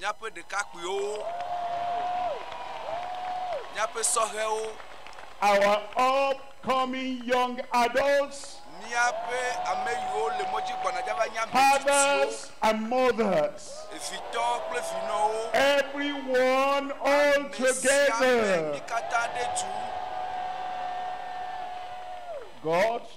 Míaƒe ɖekakpuiwo, míaƒe sɔhɛwo. Our upcoming young adults. Míaƒe ame yiwo le mɔ dzi gbɔna dza va nye ame tsitsiwo. Fathers and mothers. Evitɔ kple vinɔwo. Everyone all together. Ame sia ame, mí katã ɖe tu. God.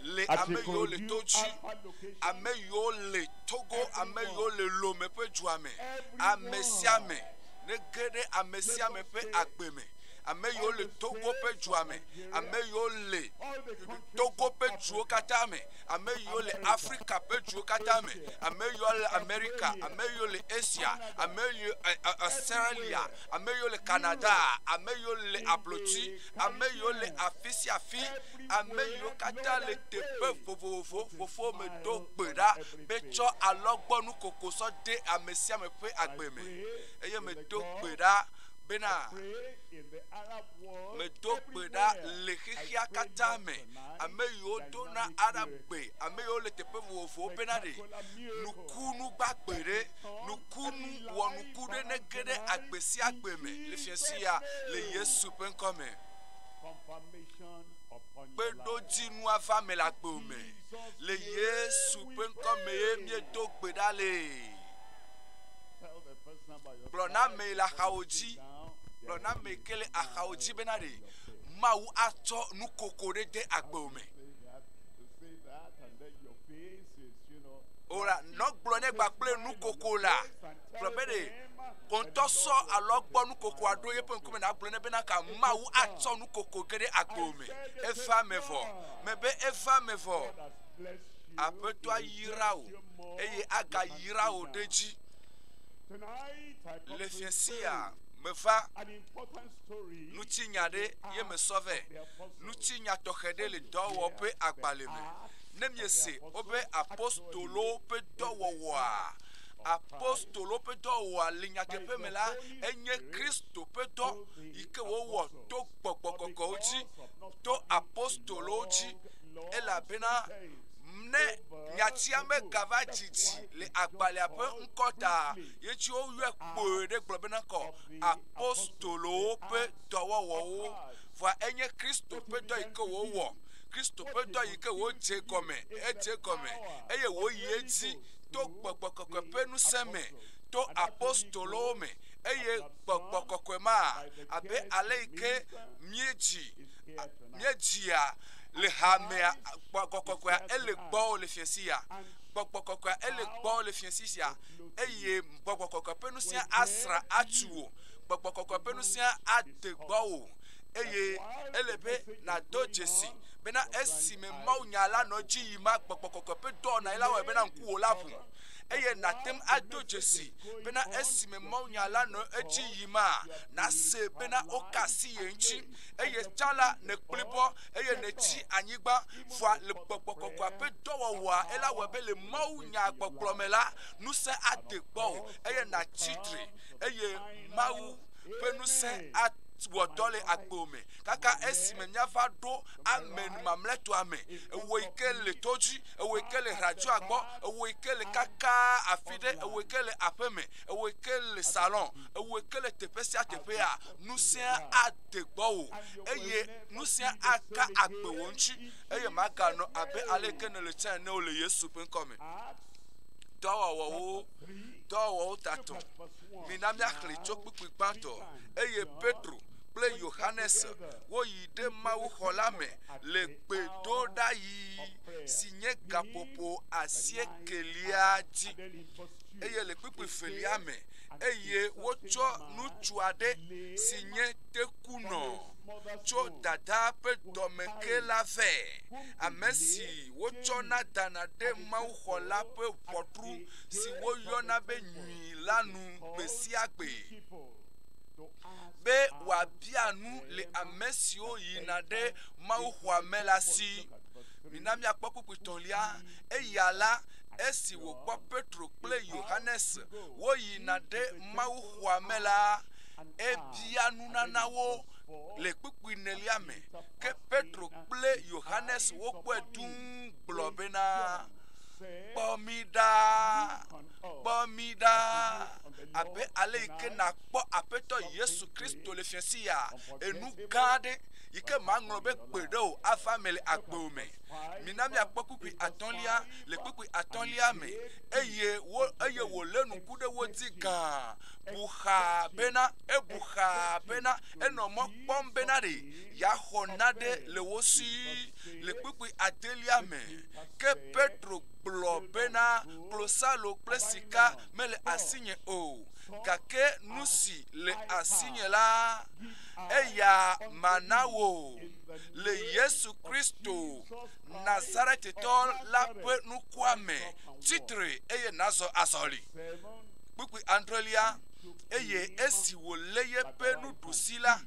le ame yiwo le to dzi, ame yiwo le Togo, ame yiwo le Lome ƒe dua me, ame sia ame nege ɖe ame sia ame ƒe agbe me. Ame yiwo le Togo ƒe dua me, ame yiwo le Togo ƒe duwo katã me, ame yiwo le Afrika ƒe duwo katã me, ame yiwo le Amerika, ame yiwo le Asia, ame yiwo eh, eh, Australia, ame yiwo le Canada, ame yiwo le ablotsi, ame yiwo le afi sia afi, ame yiwo katã le teƒe vovovo fofo me do gbe ɖa be tsɔ alɔgbɔnu koko sɔ de ame sia ame ƒe agbe me eye medo gbe ɖa bena medo gbe ɖa le xexea katã me ame yiwo do na arab gbe ame yiwo le teƒe vovovowo bena ɖe nukunu gbagbe ɖe nukunu wɔnuku ɖe nege ɖe agbe sia agbe me le fiasia le yesu ƒe ŋkɔ me. kpeɖodzinu ava eme le agbe me. Le Yesu ƒe ŋkɔ me ye míedo gbe ɖa le. Gblɔ na ame le axawo dzi, gblɔ na ame ke le axawo dzi bena ɖe Mawu atsɔ nukoko ɖe de agbe me. O la, nɔ gblɔ ne gba kple nukoko la. gblɔ be ɖe wò ŋutɔ sɔ alɔgbɔ nukokoa ɖo yeƒe ŋkume nàgblɔ ne bena ka Mawu atsɔ nukoko ge ɖe agbo me. Eva me vɔ. Mebe eva me vɔ. Aƒetɔ ayra wò eye agayra wò ɖe edzi. Le fiẽ sia meva ŋutinya ɖe ye mesɔ vɛ. Ŋutinya tɔxɛ ɖe le dɔwɔ ƒe agbalẽ me. Ne miese wobe apostolowo ƒe dɔwɔwɔa, apostolowo ƒe dɔwɔa le nyateƒe me la, enye Kristo ƒe dɔ yi ke wowɔ to gbɔgbɔ kɔkɔwo dzi, to apostolowo dzi, elabena ne nyatia megava dzidzi le agbalẽa ƒe ŋkɔ ta, ye ŋuti woyɔe kpoe ɖe gblɔ bena kɔ apostolowo ƒe dɔwɔwɔwo. Vɔa enye Kristo ƒe dɔ yi ke wowɔ. Kristo ƒe dɔ yi ke wodze gɔme, edze gɔme eye woyi edzi. to gbɔgbɔ kɔkɔe ƒe ŋusẽ me to apostolowo me eye gbɔgbɔ kɔkɔe ma abe ale yi ke míedzi míedzia le hamea gbɔgbɔ kɔkɔea ele gbɔ le fiase ya gbɔgbɔ kɔkɔea ele gbɔ le fiase sia eye gbɔgbɔ kɔkɔe ƒe ŋusẽa asrã atu wò gbɔgbɔ kɔkɔe ƒe ŋusẽa ade gbɔwò. eye ele be nàdo dzesi bena esime mawunya la nɔ edzi yim ma gbɔgbɔ kɔkɔe ƒe dɔwɔnae la wɔe bena ŋkuwò la ʋu eye nàte ŋu ado dzesi bena esime mawunya la nɔ edzi yim ma nase bena woka asi ye ŋuti eye tsã la nèkpli bɔ eye nètsi anyigba vɔa le gbɔgbɔ kɔkɔe ƒe dɔwɔwɔa ela wɔe be le mawunya gbɔgblɔ me la ŋusẽ ade gbɔwò eye nàtsi tre eye mawu ƒe ŋusẽ awɔ dɔ le agbo me kaka esime míava ɖo ame mamlɛtɔa me. Ewɔ yi ke le to dzi, ewɔ yi ke le radioa gbɔ, ewɔ yi ke le kaka afi ɖe, ewɔ yi ke le aƒeme, ewɔ yi ke le salɔn, ewɔ yi ke le teƒe sia teƒea, ŋusẽa ade gbɔwò eye ŋusẽa aka agbe wò ŋuti eye màganɔ abe ale yi ke nèle tsã ene o le Yesu ƒe ŋkɔ me. Dɔwɔwɔwo, dɔwɔwɔwo tatɔ. Mina míaxlẽe tso kpukpui gbãtɔ. Eye Petro kple Yohanes woyi ɖe mawuxɔ la me le gbedoɖaɣi si nye gaƒoƒo asiekɛlia dzi. Eye le kpukpui velia me, eye wotsɔ ŋutsu aɖe si nye tekunɔ tso dadaa ƒe dɔme ke la vɛ, ame si wotsɔna dana ɖe mawuxɔ la ƒe ʋɔtru si woyɔna be mi la nu gbe sia gbe be wòabia nu le ame siwo yina ɖe mawuxɔa me la si. Mina miakpɔ kpukpuitɔ̃lia. Eya la, esi wòkpɔ Petro kple Yohanes woyina ɖe mawuxɔa me la, ebia nunana wo le kpukpui nelia me. Ke Petro kple Yohanes wokpɔe dũu gblɔ bena, Kpɔ mí ɖa. kpɔ mí ɖa abe ale yi ke nàkpɔ Aƒetɔ Yesu Kristo le fiasi ya. Enu gã aɖe yi ke maŋlɔ be gbe ɖe o ava me le agbewo me. Mina míakpɔ kpukpui atɔ̃lia le kpukpui atɔ̃lia me eye wo eye wòlé nuku ɖe wo dzi gã. Bu xaa bena ebu xaa bena enɔ mɔ kpɔm bena ɖe yeaxɔ nane le wo si le kpukpui adelia me. Ke Petro gblɔ bena, Klosalo kple sika mele asinye o, gake nu si le asinye la, eya mana wò. Le Yesu Kristo, Nazaretitɔ la ƒe nukua me, tsi tre eye nazɔ azɔli. Kpukpui adrelia, eye esi wòlé yeƒe nuɖusi la,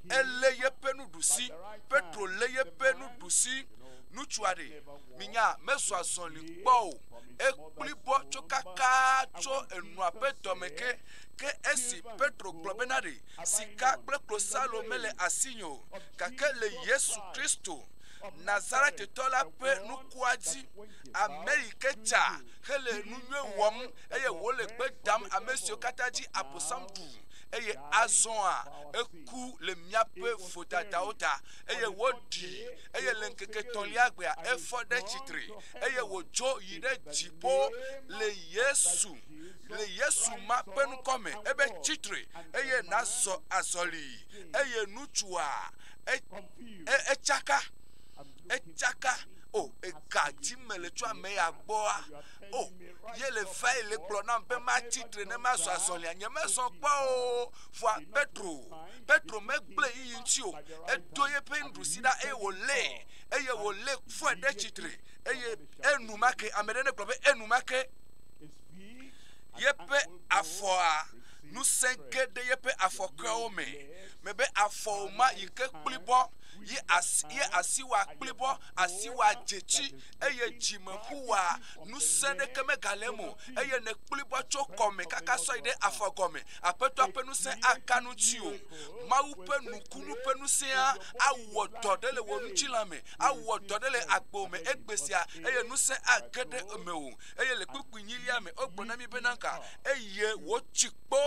elé yeƒe nuɖusi, Petro lé yeƒe nuɖusi, nutsua ɖe minya mezu azɔli kpɔ o ekpli bɔ tso kaka tso enua ƒe dɔme ke ke esi petro gblɔ bena ɖe sika kple klosalo mele asinye o gake le yesu kristo nazaretitɔ la ƒe nukua dzi ame yi ke tsa hele nu nyui wɔm eye wòle gbe dam ame siwo katã dzi abosam ɖu eye azɔa eku le míaƒe vodadawo ta eye woɖi eye le ŋkeke etɔ̃lia gbea efɔ ɖe tsitre eye wòdzo yi ɖe dziƒo le Yesu le Yesu ma ƒe ŋkɔme ebe tsitre eye nazɔ azɔli eye ŋutsua e, e, etsaka etsaka o oh, ega dzi me le tso ame ya gbɔa o oh, ye le va yi le gblɔ nam be matsi tre ne mazɔ azɔlia nye mezɔ kpɔ o vɔa petro Petro megblẽ yiyi ŋuti o. Edo yeƒe nuɖusi ɖa eye wòlé eye wòlé fɔe ɖe tsitre eye enumake ame ɖe negblɔ be enumake yeƒe afɔa ŋusẽ ge ɖe yeƒe afɔkeawo me me be afɔwo ma yi ke kplibɔ yi asi yi asi wa kplibɔ asi wa dzetsi eye dzimeƒu wa ŋusẽ ɖeke megale eme o eye nekplibɔ tso kɔme kaka sɔ yi ɖe afɔ gɔme Aƒetɔa ƒe ŋusẽ aka nu tsiwò. Mawu ƒe nukunu ƒe ŋusẽa awɔ dɔ ɖe le wò ŋutilã me, awɔ dɔ ɖe le agbewo me egbe sia, eye ŋusẽ age ɖe mewò. Eye le kpukpuinyilia me, wogblɔ na mí bena, Ka, eye wòtsi kpɔ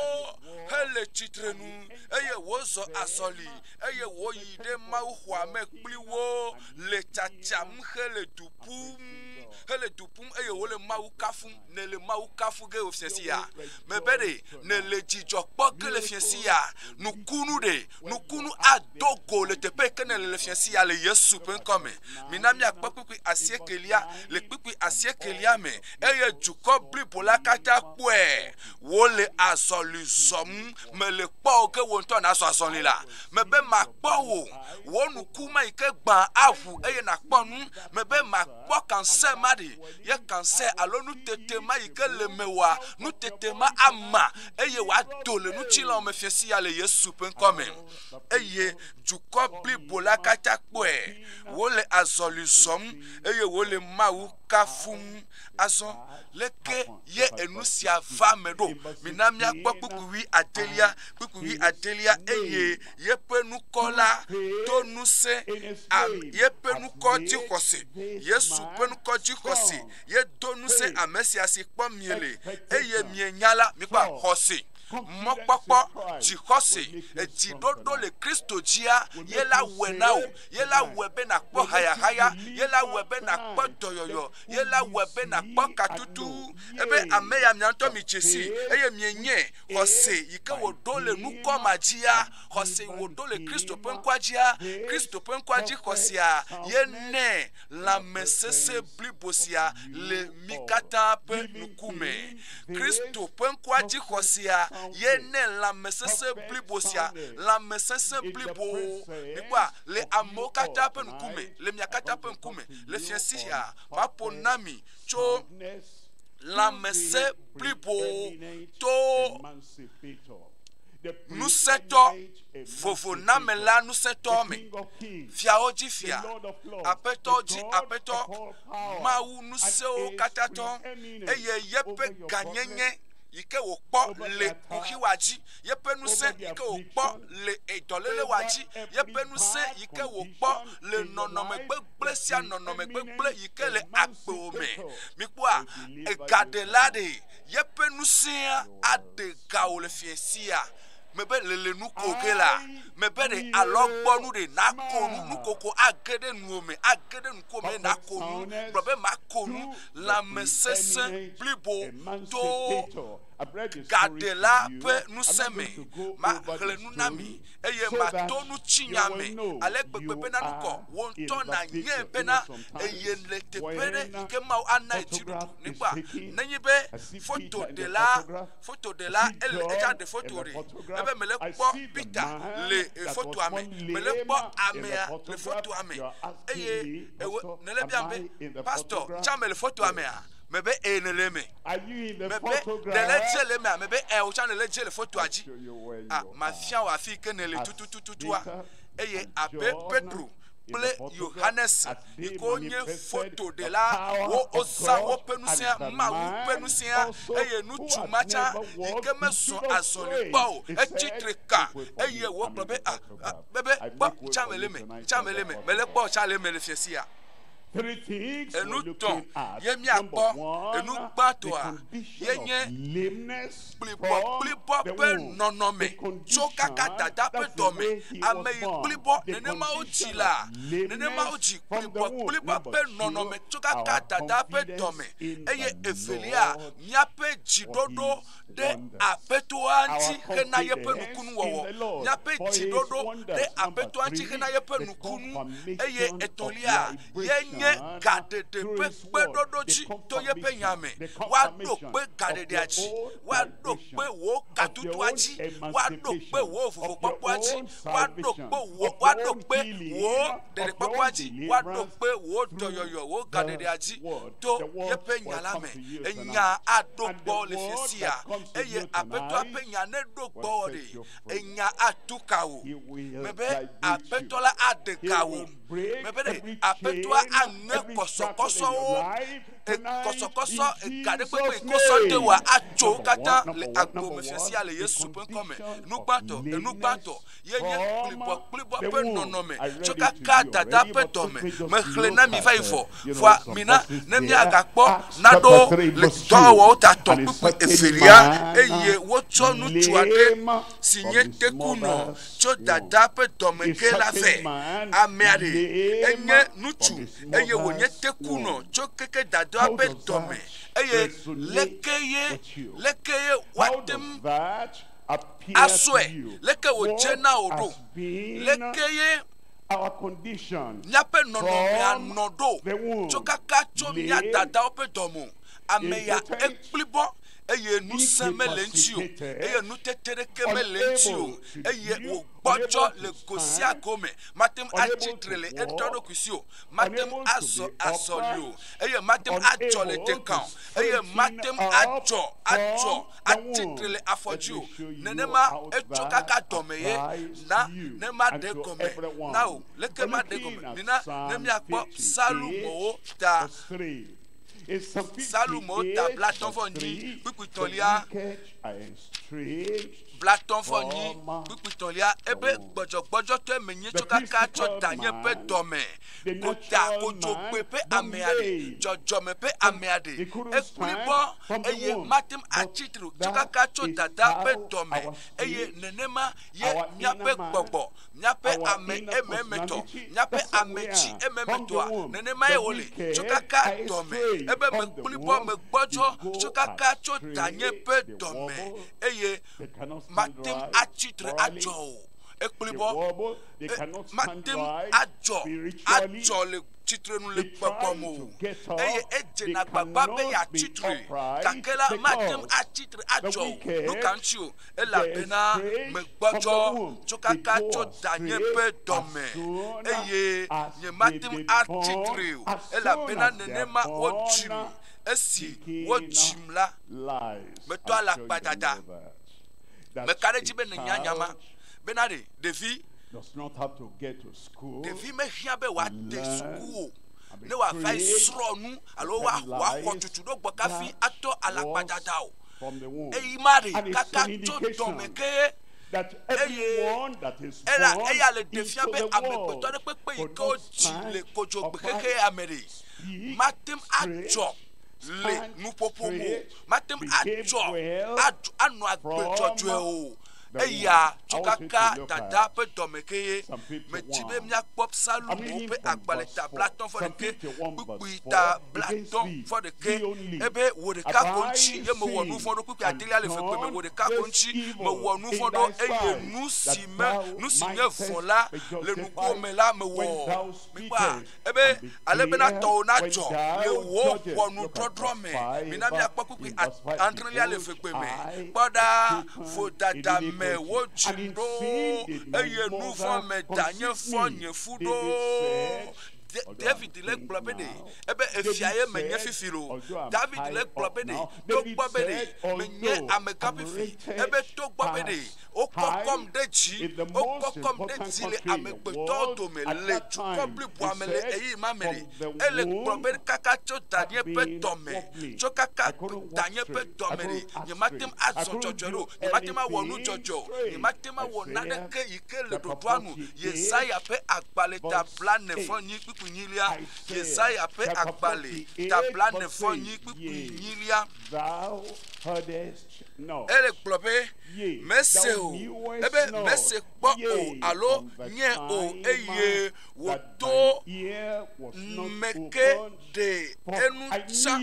hele tsitrenu, eye wòzɔ azɔli, eye wòyi ɖe mawuxɔa me kpli wo, le tsatsam hele du ƒum, hele du ƒum, eye wòle Mawu kafum. nèle Mawu kafu ge wòfiẽ si ya, mebe ɖe nèle dzidzɔ kpɔ ge le fiẽ si ya, nukunu ɖe, nukunu ado go le teƒe ke nèle le fiẽ si ya le Yesu ƒe ŋkɔ me. Mina míakpɔ kpukpui asiekelia le kpukpui asiekelia me eye dukɔ blibo la katã kpɔe. Wole azɔli zɔm, mele kpɔ o ge wò ŋutɔ nàzɔ azɔli la. Mebe makpɔ wò, wò nuku ma yi ke gbã aʋu eye nàkpɔ nu, mebe makpɔ. kpɔ kansɛ ma ɖi ye kansɛ alo nutete ma yi ke le mewòa nutete ma ama eye wòado le ŋutilãwo me fia siya le yesu ƒe ŋkɔ me eye dukɔ blibo la katã kpɔe wole azɔli zɔm eye wole mawu kafum azɔ leke ye enu sia va me ɖo mina míakpɔ kpukpuvi adelia kpukpuvi adelia eye yeƒe nukɔ la do ŋusẽ yeƒe nukɔ dzixɔse. Yesu ƒe nukɔ dzixɔse yedo ŋusẽ ame sia si kpɔ miele eye mienya la mikpɔ xɔse. Mɔkpɔkpɔ dzixɔse edziɖoɖo le Kristo dzia ye la wɔe na wò. Ye la wɔe be nàkpɔ hayahaya. Ye la wɔe be nàkpɔ dɔyɔyɔ. Ye la wɔe be nàkpɔ katutu. Ebe ame ya mia ŋutɔ midze sii eye mienyae. xɔse yi ke wòɖo le nukɔ ma dzia, xɔse wòɖo le Kristo ƒe ŋkɔa dzia, Kristo ƒe ŋkɔa dzi xɔsea, ye nɛ lãmesesẽ blibo sia le mi katã ƒe nuku me. Kristo ƒe ŋkɔa dzi xɔsea, ye nɛ lãmesesẽ blibo sia, lãmesesẽ blibo, mikpɔa, le amewo katã ƒe ŋkume, le mia katã ƒe ŋkume, le fiasia, maƒo na mi tso lãmesẽ blibo to ŋusẽtɔ vovonamela ŋusẽtɔ me fiawo dzi fia aƒetɔ dzi aƒetɔ mawu ŋusẽwo katã tɔ eye yeƒe gãnyenye yi ke wòkpɔ le kuxiwa dzi yeƒe ŋusẽ yi ke wòkpɔ le edɔléle wa dzi yeƒe ŋusẽ yi ke wòkpɔ le nɔnɔme gbegblẽ. kple sia nɔnɔme gbegblẽ yi ke le agbewo me. Mikpɔa, egaɖela ɖe yeƒe ŋusẽa aɖe gawo le fiẽ sia mebe lele nu ko ge la, mebe ɖe alɔgbɔnu ɖe nako nu, nukoko age ɖe nuwo me, age ɖe nuko me nako nu, gblɔ be mako nu, lãmesesẽ blibo to gaɖela ƒe ŋusẽ me. Maxlẽ nu na mi. eye mato nutsinya me ale gbegbe bena nu kɔ wò ŋutɔ nànyae bena eye le teƒe ɖe yi ke Mawu ana ye dziɖuɖu ne kpɔa. Nenye be fotoɖela, fotoɖela, ele, etsã ɖe foto ɖe, ebe mele kpɔ Peter le fotoa me, mele kpɔ amea le fotoa me, eye ewe, nèle biam be, Pastor, ŋtsã mele fotoa mea? Mebe, Ɛ̃, nèle eme. Mebe nèle edze le emea? Mebe ɛɛ, wò tsã nèle edze le fotoa dzi. A, mafia wò afi yi ke nèle tutututua. Eye abe Petro kple Yohanes yi ke wonye fotoɖela, wo, wozã woƒe ŋusẽa, Mawu ƒe ŋusẽa, eye ŋutsu ma tsã yi ke mezɔ azɔli kpɔ o, etsi tre kã, eye wògblɔ be, A, a, mebe, kpɔ, ŋtsã mele eme, ŋtsã mele eme, mele kpɔ, ŋtsã le eme le fiasia. Enu tɔ̃ ye míakpɔ. Enu gbãtɔa ye nye kplibɔkplibɔ ƒe nɔnɔme tso kaka dada ƒe dɔme. Ame yi kplibɔ nenema wodzi la, nenema wodzi kplibɔkplibɔ ƒe nɔnɔme tso kaka dada ƒe dɔme. Eye evelia, míaƒe dziɖoɖo. ɖe Aƒetɔa ŋuti hena yeƒe nukunuwɔwɔ. Míaƒe dziɖoɖo ɖe Aƒetɔa ŋuti hena yeƒe nukunu. Eye etɔ̃lia ye nye gaɖeɖe ƒe kpeɖoɖo dzi to yeƒe nya me. Woaɖo kpe gaɖeɖea dzi. Woaɖo kpe wò gadodoa dzi. Woaɖo kpe wò vovokpɔkpɔa dzi. Woaɖo kpe wò, woaɖo kpe wò ɖeɖekpɔkpɔa dzi. Woaɖo kpe wò dɔyɔyɔ, wò gaɖeɖea dzi to yeƒe nya la me. enya aɖo gbɔ le xexea, eye Aƒetɔa ƒe nya neɖo gbɔ ɖe, enya atu ka wò. Mebe Aƒetɔ la aɖe ga wò. Mebe ɖe Aƒetɔa aŋe kɔsɔkɔsɔwo, kɔsɔkɔsɔ ega ɖe kpekpe kɔsɔ de wòa atso katã le agbo me xexea le Yesu ƒe ŋkɔ me. Nugbãtɔ, enugbãtɔ. ye nye kplibɔkplibɔ ƒe nɔnɔme tso kaka dada ƒe dɔme me xlẽ na mi va yi vɔ. Vɔa mina ne míagakpɔ nanewo le dɔwɔwɔwo ta tɔ kpukpui evelia, eye wotsɔ ŋutsu aɖe si nye tekunɔ tso dada ƒe dɔme ke la vɛ. Amea ɖe enye ŋutsu eye wònye tekunɔ tso keke dada ƒe dɔme, eye lekee, lekee woate ŋu. asɔe leke wòdze na wò ɖo. Leke ye míaƒe nɔnɔmea nɔ ɖo tso kaka tso mía dadawo ƒe dɔ me o. Ameya ekpli bɔ eye ŋusẽ mele eŋuti o eye ŋutete ɖeke mele eŋuti o eye wògbɔdzɔ le go sia go me. Mate ŋu atsi tre le eɖokui si o, mate ŋu azɔ azɔli o eye mate ŋu adzɔ le teka o eye mate ŋu adzɔ adzɔ atsi tre le afɔdziwò, nenema etso kaka dɔme ye. Na ne maɖe gɔme na wò. Leke maɖe gɔme? Mina ne míakpɔ Psalmowo ta. Psalmowo ta blatɔ̃ vɔ nyi kpukpui tɔ̃lia. Blatɔ̃ vɔ nyi kpukpui tɔ̃lia. Ebe gbɔdzɔgbɔdzɔtɔe menye tso kaka tsɔ danye ƒe dɔme. Wota kodzo kpɔe ƒe amea ɖe, dzɔdzɔme ƒe amea ɖe. Ekpɔe kpɔ, eye mate ŋu atsi tre o. Dzokaka tso Dada ƒe dɔ me, eye nenema ye míaƒe gbɔgbɔ, míaƒe ame ememetɔ, míaƒe ame tsi ememetɔa, nenemae wòle. Dzokaka dɔ me, ebe mekpɔe kpɔ, megbɔdzɔ dzokaka tso Danye ƒe dɔ me, eye mate ŋu atsi tre adzɔ o. Ekpɔe kpɔ. mate ŋu adzɔ adzɔ le tsitrenu le gbɔgbɔ me o eye edzena gbagba be yeatsi tre gake la mate ŋu atsi tre adzɔ o nu ka ŋuti o elabena megbɔdzɔ tso kaka tso danye ƒe dɔme eye nyemate ŋu atsi tre o elabena nenema wodzim esi wodzim la metɔ alakpadada meka ɖe edzi be nènya nya ma bena ɖe Ɖevi, ɖevi mehiã be wòade suku o ne wòava srɔ̃ nu alo wòaxɔ tutuɖogbɔ kafi atɔ alakpadada o. Eyi Mari kaka tso dɔme ke ye, eye ela eya le ɖe fia be amegbetɔ ɖe kpekpe yi ke wodzi le kodzogbe xexea me ɖe, mate ŋu adzɔ le nuƒoƒo me o, mate ŋu adzɔ anɔ agbe dzɔdzɔe o. eya tsukaka dada ƒe dɔme kee. Medi be míakpɔ Psalmo ƒe agbalẽ ta blatɔ̃ fɔ ɖekɛ, kpukpui ta blatɔ̃ fɔ ɖekɛ, ebe wò ɖeka ko ŋuti ye mewɔ nu vɔ̃ ɖo, kpukpui adelia le eve koe me, wò ɖeka ko ŋuti mewɔ nu vɔ̃ ɖo, eye nu si me, nu si nye vɔ̃ la le ŋkuwò me la mewɔ. Mikpɔa? Ebe, ale bena tɔwò nadzɔ le wò ʋɔnudɔdrɔ̃ me. Mina míakpɔ kpukpui adrelia le vegbe me. Kpɔ ɖa, vodada me wodzim ɖo, eye nu vɔ̃ me danye fɔ nye fu ɖo. David le gblɔ be ɖe ebe efia ye menye fifi lo. David le gblɔ be ɖe togbɔ be ɖe menye amegã fifi, ebe togbɔ be ɖe Wokpɔkpɔm ɖe dzi, wokpɔkpɔm ɖe dzi le amegbetɔwo dome le dukɔ bliboa me le ɣeyiɣima me. Ele gblɔm be, Kaka tso danye ƒe dɔme, tso kaka danye ƒe dɔme ɖi, nyemate ŋu azɔ dzɔdzɔe ɖe o, nyemate ŋu awɔ nu dzɔdzɔe o, nyemate ŋu awɔ naneke yi ke le ɖoɖoa nu. Yesaya ƒe agbalẽ ta blaene-vɔ-enyi kpukpui nyilia, Yesaya ƒe agbalẽ ta blaene-vɔ-enyi kpukpui nyilia. Ele gblɔ be. mese o, ebe mese kpɔ o alo nye o, eye wòto nu me ke ɖe enu tsã,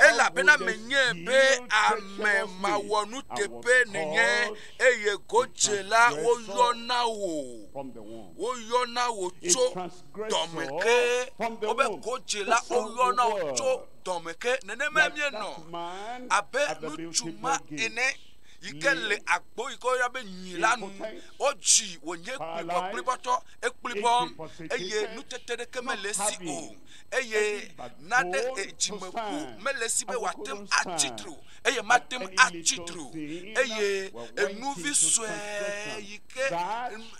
elabena menyae be ame mawɔnuteƒe nènye, eye godzela woyɔna wò, woyɔna wò tso dɔme ke, wobe godzela woyɔna wò tso. dɔme ke nenema míenɔ abe ŋutsu ma ene yi ke le agbo yi ke woyɔna be nyui la nu. Wodzi wònye kplibɔkplibɔtɔ ekplibɔm eye nutete ɖeke mele esi o eye nane edzimeƒu mele esi be wòate ŋu atsi tre o eye mate ŋu atsi tre o eye enuvi sue yi ke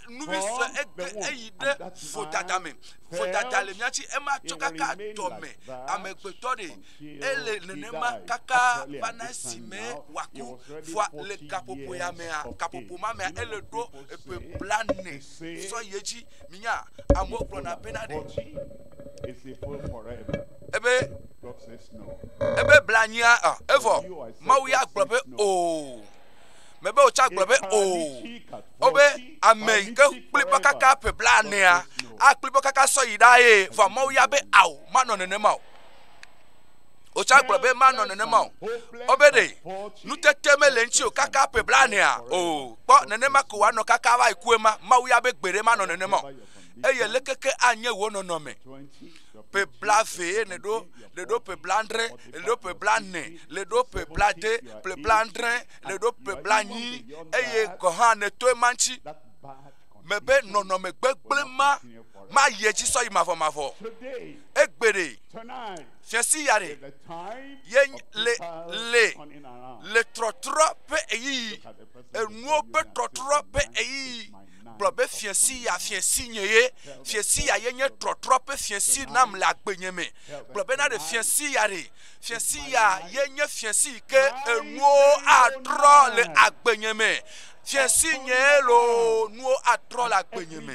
nuvi sue ege eyi ɖe vodada me. vodada le mía si, ema tsɔ kaka dɔme amegbetɔ ɖe. Ele nenema kaka va na esime wòaku. Vɔa le gaƒoƒo ya mea, gaƒoƒo ma mea, ele ɖo ƒe blaene sɔ yi edzi. Minya? Amewo gblɔna bena ɖe ebe, ebe blaenyia ɔ, evɔ Mawu ya gblɔ be oo. Mebe wòtsa gblɔ be oo. Wobe ame yi ke kpli bɔ kaka ƒe blaenea, akpli bɔ kaka sɔ yi ɖa ye. Vɔ Mawu ya be ao, manɔ nenema o. Wotsa gblɔ be manɔ nenema o. Wobe ɖe nutete mele ŋuti o kaka ƒe blaenea o. Kpɔ nenema ko wòanɔ kaka va yi ku ema. Mawu ya be gbeɖe manɔ nenema o. Eye leke ke anye wò nɔnɔme? Ƒe blaeve ye nèɖo, nèɖo ƒe blaadre, nèɖo ƒe blaene, nèɖo ƒe blaade, ƒe blaadre. nèɖo ƒe blaenyi eye gɔ̃ hã nèto ema ŋuti mebe nɔnɔme gbegblẽ ma mayi edzi sɔ yi mavɔmavɔ. Egbe ɖe, fiasi ya ɖe, ye le le le trɔtrɔ ƒe ɣeyiɣi, enuwo ƒe trɔtrɔ ƒe ɣeyiɣi gblɔ be fiasi ya fiasi nye ye, fiasi ya ye nye trɔtrɔ ƒe fiasi nam le agbenye me. Gblɔ bena ɖe fiasi ya ɖe Fiẽ si ya ye nye fiẽ si ke enuwo atrɔ le agbenye me. Fiẽ si nye loo nuwo atrɔ le agbenye me.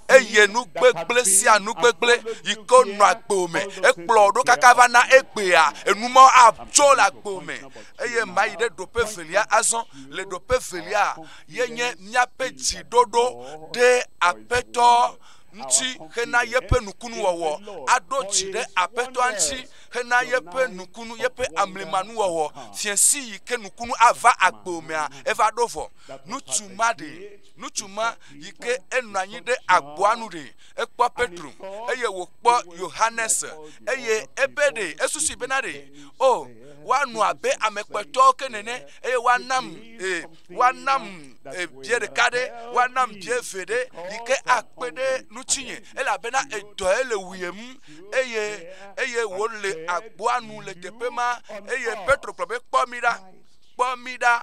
Eye nu gbegblẽ sia nu gbegblẽ yi ke nɔ agbo me. Ekplɔ ɖo kaka va na egbea. Enu ma atso le agbo me. Eye mayi ɖe ɖoƒe velia azɔ. Le ɖoƒe velia ye nye míaƒe dziɖoɖo ɖe aƒetɔ ŋuti hena yeƒe nukunuwɔwɔ. Aɖo dzi ɖe aƒetɔa ŋuti hena yeƒe nukunu, yeƒe amlimanuwɔwɔ, fiẽ si yi ke nukunu ava agbewo mea, eva ɖo vɔ. Nutsu ma ɖe, nutsu ma yi ke enɔ anyi ɖe agboa nu ɖe, ekpɔ Petro, eye wòkpɔ Yohanes, eye ebe ɖe, esusui bena ɖe, O, woanɔ abe ame kpɔtɔwo ke nene, eye woanam, e, woanam e, bie ɖeka ɖe, woanam bie ve ɖe, yi ke akpe ɖe ŋutinye, elabena edɔe le wuyem, eye eye wole agboa nu le teƒe ma eye petro gblɔ be kpɔ mi ɖa kpɔ mi ɖa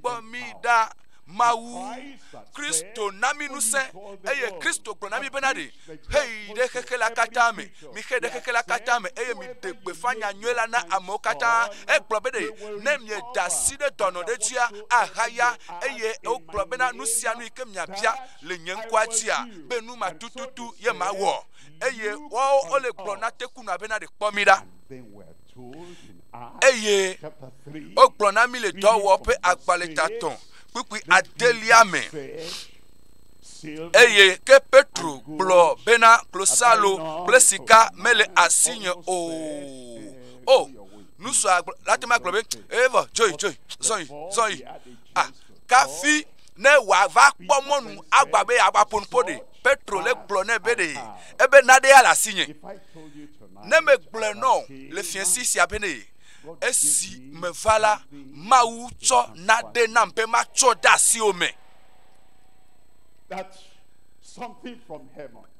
kpɔ mi ɖa mawu kristo na mi ŋusẽ eye kristo gblɔ na mi bena ɖe heyi ɖe xexe la katã me mixe ɖe xexe la katã me eye miɖe gbeƒã nyanyɔe la na amewo katã egblɔ be ɖe ne mieda asi ɖe dɔnɔ ɖe dzia ahaya eye wogblɔ bena nu sia nu yi ke miabia le nye ŋkɔa dzia be nu ma tututu ye mawɔ eye woawo wole gblɔ na tekunɔa bena ɖe kpɔ mi ɖa eye wogblɔ na mi le dɔwɔƒe agbalẽtatɔ kpukpui adelia me eye ke petro gblɔ bena klosalo kple sika mele asinye o o nusua la te ma gblɔ be evɔ dzoyi dzoyi zɔyi zɔyi ah kafi ne wòava kpɔ mɔnu agba be yeava ƒo nuƒo ɖe. Petro le gblɔ nɛ be ɖe ebe naɖe ya le asinye. Ne megblɔe nɔ le fiẽsi sia be ne esi meva la, Mawu tsɔ naɖe nam be matsɔ de asiwò me.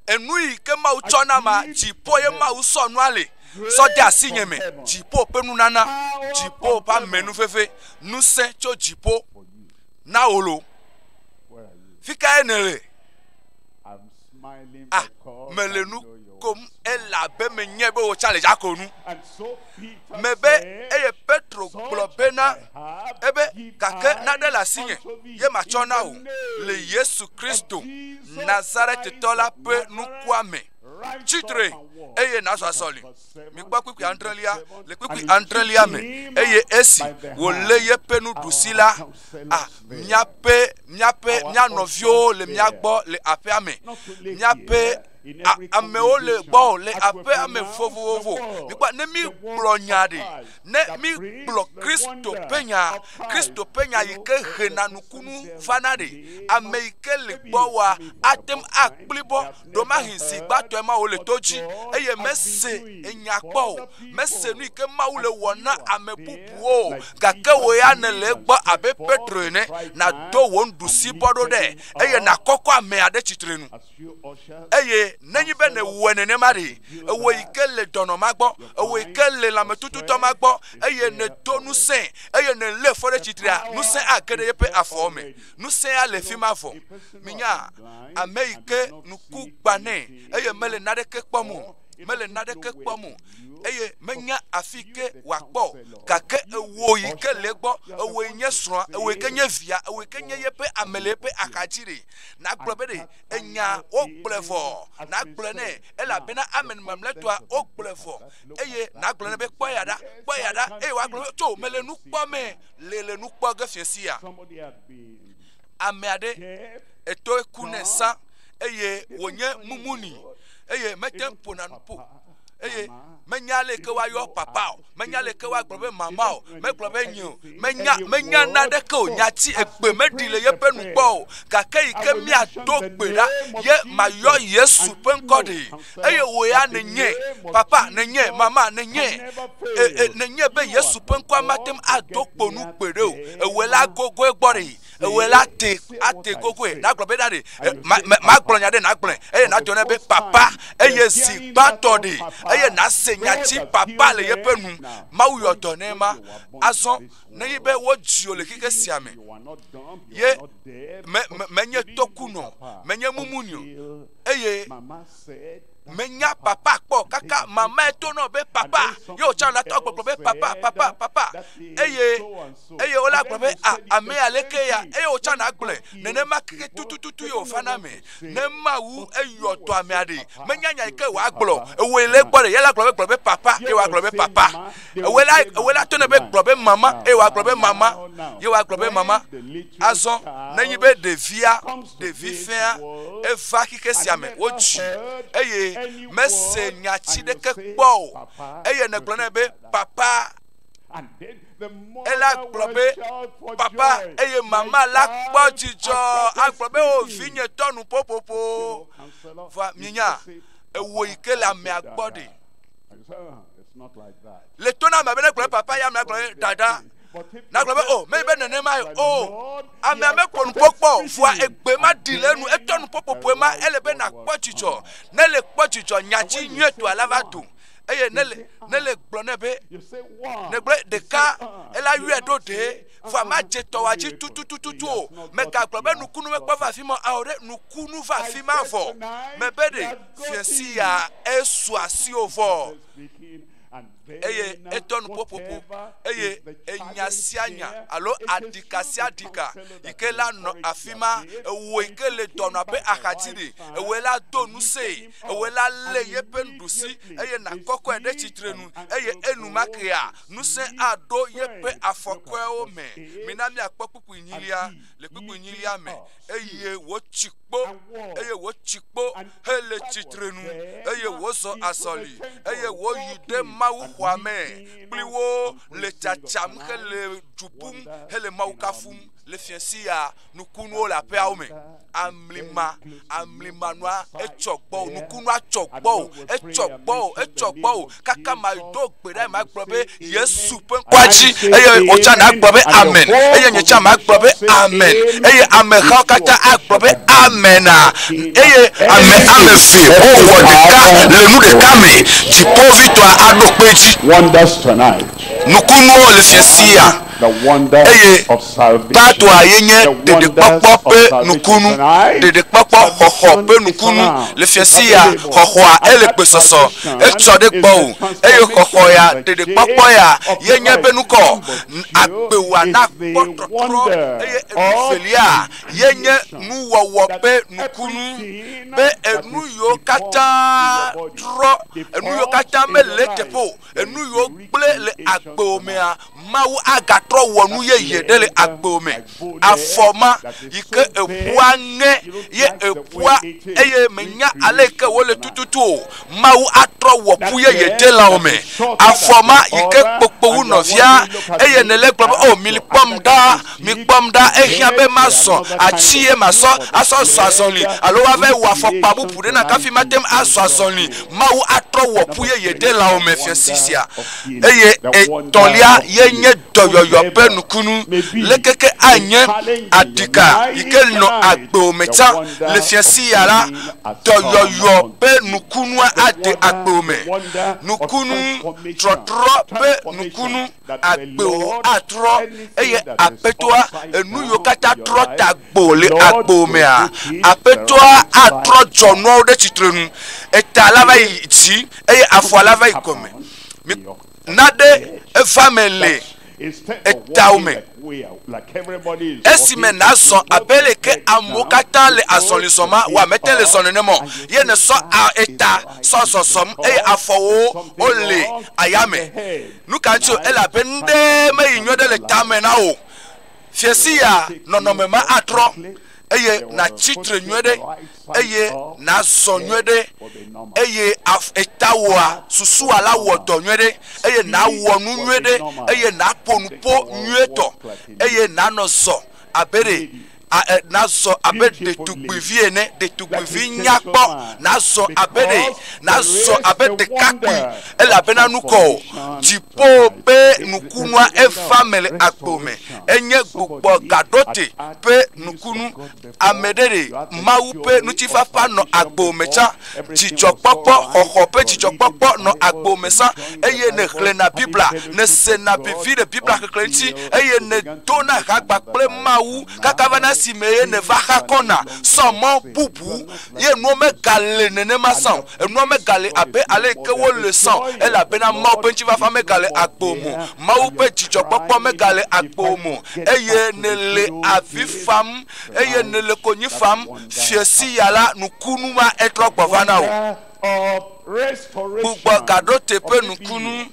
enu yi ke Mawu tsɔ na ma, dziƒo ye Mawu sɔ nua le, sɔ de asi nye me, dziƒo ƒe nunana, dziƒo ƒe amenuveve, ŋusẽ tso dziƒo na wò lo. Fi kae nèle? Ah, mele nu kom elabe menye be wò tsã le dzakonu. me be eye Petro gblɔ bena ebe gake naɖe le asinye ye matsɔ na wò le Yesu Kristo Nazaretitɔ la ƒe nukua me. Tsi tre eye nazɔ azɔli. Mikpɔ kpukpui adrelia le kpukpui adrelia me eye esi wòlé yeƒe nuɖusi la, a míaƒe míaƒe mía nɔviwo le mía gbɔ le aƒea me. Míaƒe amewo le gbɔ le aƒe ame vovovovo mikpɔ ne mi gblɔ nya ɖi ne mi gblɔ kristo ƒe nya kristo ƒe nya yi ke hena nukunu vana ɖi ame yi ke le gbɔ wa ate ŋu akpli bɔ ɖomahi zi gbãtɔe ma wòle to dzi eye mese enya kpɔ o mese nu yi ke mawu le wɔ na ame bubuwo o gake wò ya nèle egbɔ abe petro ene nàdo wò nuɖusi bɔ ɖo ɖe eye nàkɔkɔ ame aɖe tsitre nu Eye nenyi be nèwɔe nenema ɖe, ewɔ yi ke le dɔnɔ ma gbɔ, ewɔ yi ke le lãmetututɔ ma gbɔ, eye nèdo ŋusẽ, eye nèlé fɔ ɖe tsitrea, ŋusẽ age ɖe yeƒe afɔ me. Ŋusẽa le fi ma vɔ. Minya, ame yi ke ŋku gbã nɛ, eye mele naɖeke kpɔm o, mele naɖeke kpɔm o, eye menya afi yi ke wòakpɔ o, gake ewɔ yi ke le egbɔ, ewɔe nye srɔ̃a, ewɔe ke nye via, ewɔe ke nye yeƒe ame le eƒe axadzi ɖe. Nagblɔ be ɖe enya wogblɔe vɔ. Nagblɔe nɛ elabena ame mamlɛtɔa wogblɔe vɔ. Eye nagblɔ nɛ be kpɔ ya ɖa, kpɔ ya ɖa, eye wòagblɔ be tso mele nu kpɔ me, le le nu kpɔ ge fiẽ sia. Ame aɖe etoe ku nɛ sã eye wònye mumuni eye mete ŋu ƒona nu ƒo. eye menya aleke woayɔ papa o menya aleke woagblɔ be mama o megblɔ be nyi o menya menya naɖeke o nya ti egbe meɖi le yeƒe nu gbɔ o gake yi ke miado gbe ɖa ye mayɔ yesu ƒe ŋkɔ ɖi eye wò ya nenye papa nenye mama nenye e, e, nenye be yesu ƒe ŋkɔa mate ŋu ado kpo nu gbe ɖe o ewɔe la gogoe gbɔ ɖi ewɔe la te ate gogoe nagblɔ be ɖaɖe magblɔ nya ɖe nagblɔe eye nagblɔ ne be papa eye zi gbãtɔ ɖe eye nase nya tsi papa le yeƒe nu mawu yɔ dɔ ne ma azɔ ne yi be wodzio le xexe sia me ye menye tɔkunɔ menye mumunio eye menya papa kpɔ o kaka mamae to nɔ be papa ye wòtsã la tɔ gbɔgblɔ be papa papa papa eye eye wola gblɔ be a ame aleke ya eye wòtsã na gblɔe nenema keke tutututu ye wòfa na ame ne mawu eyɔ tɔ ame aɖe menya nya yi ke wòagblɔ ewoe le gbɔ ɖe ye la gblɔ be gblɔ be papa ye wòagblɔ be papa ewoe la ewoe la to ne be gblɔ be mama eye wòagblɔ be mama ye wòagblɔ be mama azɔ nenyi be ɖevia ɖevi fea, eva xixe sia me, wodzi eye mese nya tsi ɖeke kpɔ o. Eye negblɔ nɛ be, Papa, ela gblɔ be papa eye mama la kpɔ dzidzɔ agblɔ be o vinye tɔ nu ƒoƒoƒo va minya ewo yi ke le amea gbɔ ɖi le to na ame be ne gblɔ papa ya ame gblɔ dada nagblɔ be o meli be nenemae o amea mekpɔ nukpɔkpɔ o vua egbe ma ɖi le enu etɔ nukpɔkpɔƒoe ma ele be nakpɔ dzidzɔ ne le kpɔ dzidzɔ nyati nyuietɔa la va do eye ne le ne le gblɔ ne be negblɔ ɖeka ela yɔe ɖo ɖee vua ma dze tɔwa dzi tututututu o megagblɔ be nukunu mekpɔ va afi ma o ɖe nukunu va afi ma vɔ mebe ɖe fiasi ya esu asi o vɔ eye edɔ nuƒoƒoƒo eye enya sia nya alo aɖika sia aɖika yi ke la nɔ afi ma ewɔ yi ke le dɔnɔ ƒe axadzi ɖi ewɔe la do ŋusẽe ewɔe la lé yeƒe nuɖusi eye nakɔkɔe ɖe tsitre nu eye enumekea ŋusẽ aɖo yeƒe afɔkɔewo me mina miakpɔ kpukpui nyilia le kpukpui nyilia me eye wotsi kpo, eye wotsi kpo hele tsitrenu, eye wozɔ azɔli, eye woyi ɖe Mawu xɔa me kpli wo le tsatsam hele du ƒum hele Mawu kafum le fia sia nukunuwo le aƒeawo me. Amlima, amlimanua, etsɔ gbɔ, nukunua tsɔ gbɔ, etsɔ gbɔ, etsɔ gbɔ. kaka mado gbe ɖa magblɔ be yesu ƒe ŋkɔa dzi eye wòtsa nagblɔ be amen eye nye tsa magblɔ be amen eye amehawo katã agblɔ be amena eye ame ame eve wowɔ ɖeka le nu ɖeka me dziƒovitɔa aɖo kpe dzi nukunuwo le fiasia eye Bartoa ye nye ɖeɖekpɔkpɔ ƒe nukunu, ɖeɖekpɔkpɔ xɔxɔ ƒe nukunu le fiase ya, xɔxɔa ele gbesɔsɔ, etsɔ ɖe gbɔwò, eye xɔxɔ ya, ɖeɖekpɔkpɔ ya, ye nye eƒe nukɔ, agbewoa nakpɔ tɔtrɔ, eye enuvelia ye nye nuwɔwɔ ƒe nukunu, be enu yiwo katã trɔ, enu yiwo katã mele eteƒe o. enu yiwo gblẽ le agbewo mea, Mawu agatrɔ wɔ nu yeye ɖe le agbewo me. Afɔ ma yi ke eƒua ŋe ye eƒua eye menya ale yi ke wole tututu o. Mawu atrɔ wɔ ƒu yeye ɖe lãwo me. Afɔ ma yi ke kpokpowu nɔvia eye nèle gblɔ be, O, mikpɔm ɖa. mikpɔm ɖa, ehiã be mazɔ atsi ye masɔ asɔ zɔ azɔli alo woava yi wɔ afɔkpa bubu ɖe nam kafi mate ŋu azɔ azɔli. Mawu atrɔ wɔ ƒu ye yeɖe lãwo me fia si sia. Eye etɔ̃lia ye nye dɔyɔyɔ ƒe nukunu. Leke ke anye aɖika yi ke nɔ agbewo me tsã le fia si ya la, dɔyɔyɔ ƒe nukunua ade agbewo me. Nukunu, trɔtrɔ ƒe nukunu. agbe o atrɔ, eye Aƒetɔa enu yiwo katã trɔ ta gbo le agbo mea, Aƒetɔa atrɔ dzɔnuawo ɖe tsitre nu. Eta la va yi dzi, eye afɔa la va yi gɔme. Mi na ɖe eva me le etao me. Esime nàzɔ abe le ke amewo katã le azɔli zɔm ma, wò mete le zɔ nenema o, ye nèsɔ a eta sɔ zɔzɔm, eye afɔwo wole aya me. Nu ka ŋuti o? Elabeɖe meyi nyuiɖe le tame na wò o. Fiasiya nɔnɔme ma atrɔ eye nàtsi tre nyuiɖe eye nàzɔ nyuiɖe eye etawòa susua la wɔ dɔ nyuiɖe eye nàwɔ nu nyuiɖe eye nàƒo nuƒo nyuietɔ eye nànɔ zɔ abe ɖe nazɔ abe ɖetugbuivi ene, ɖetugbuivi nyakpɔ, nazɔ abe ɖe, nazɔ abe ɖekakpui, elabena nukɔ o. Dziƒo ƒe nukunua eva me le agbo me. Enye gbogbo gaɖote ƒe nukunu. Ame ɖe ɖe Mawu ƒe ŋutifafa nɔ agbo me tsã. Dzidzɔkpɔkpɔ, xɔxɔ ƒe dzidzɔkpɔkpɔ nɔ agbo me zã, eye nèxlẽna Biblia, nèsena vevi le Biblia xexlẽ ŋuti, eye nèdona ha kpakple Mawu kaka va na esimee nèva xa kɔna sɔ mɔ bubu. Ye nuwo megale nenema zã o. Enuawo megale abe ale yi ke wole zã o, elabena Mawu ƒe ŋutifafa megale agbowòme o. Mawu ƒe dzidzɔkpɔkpɔ megale agbowòme o, eye nèle avi fam eye nèle konyi fam fiẽ si ya la, nukunu ma etrɔ gbɔ va na wò. Gbugbɔ gaɖo teƒe nukunu,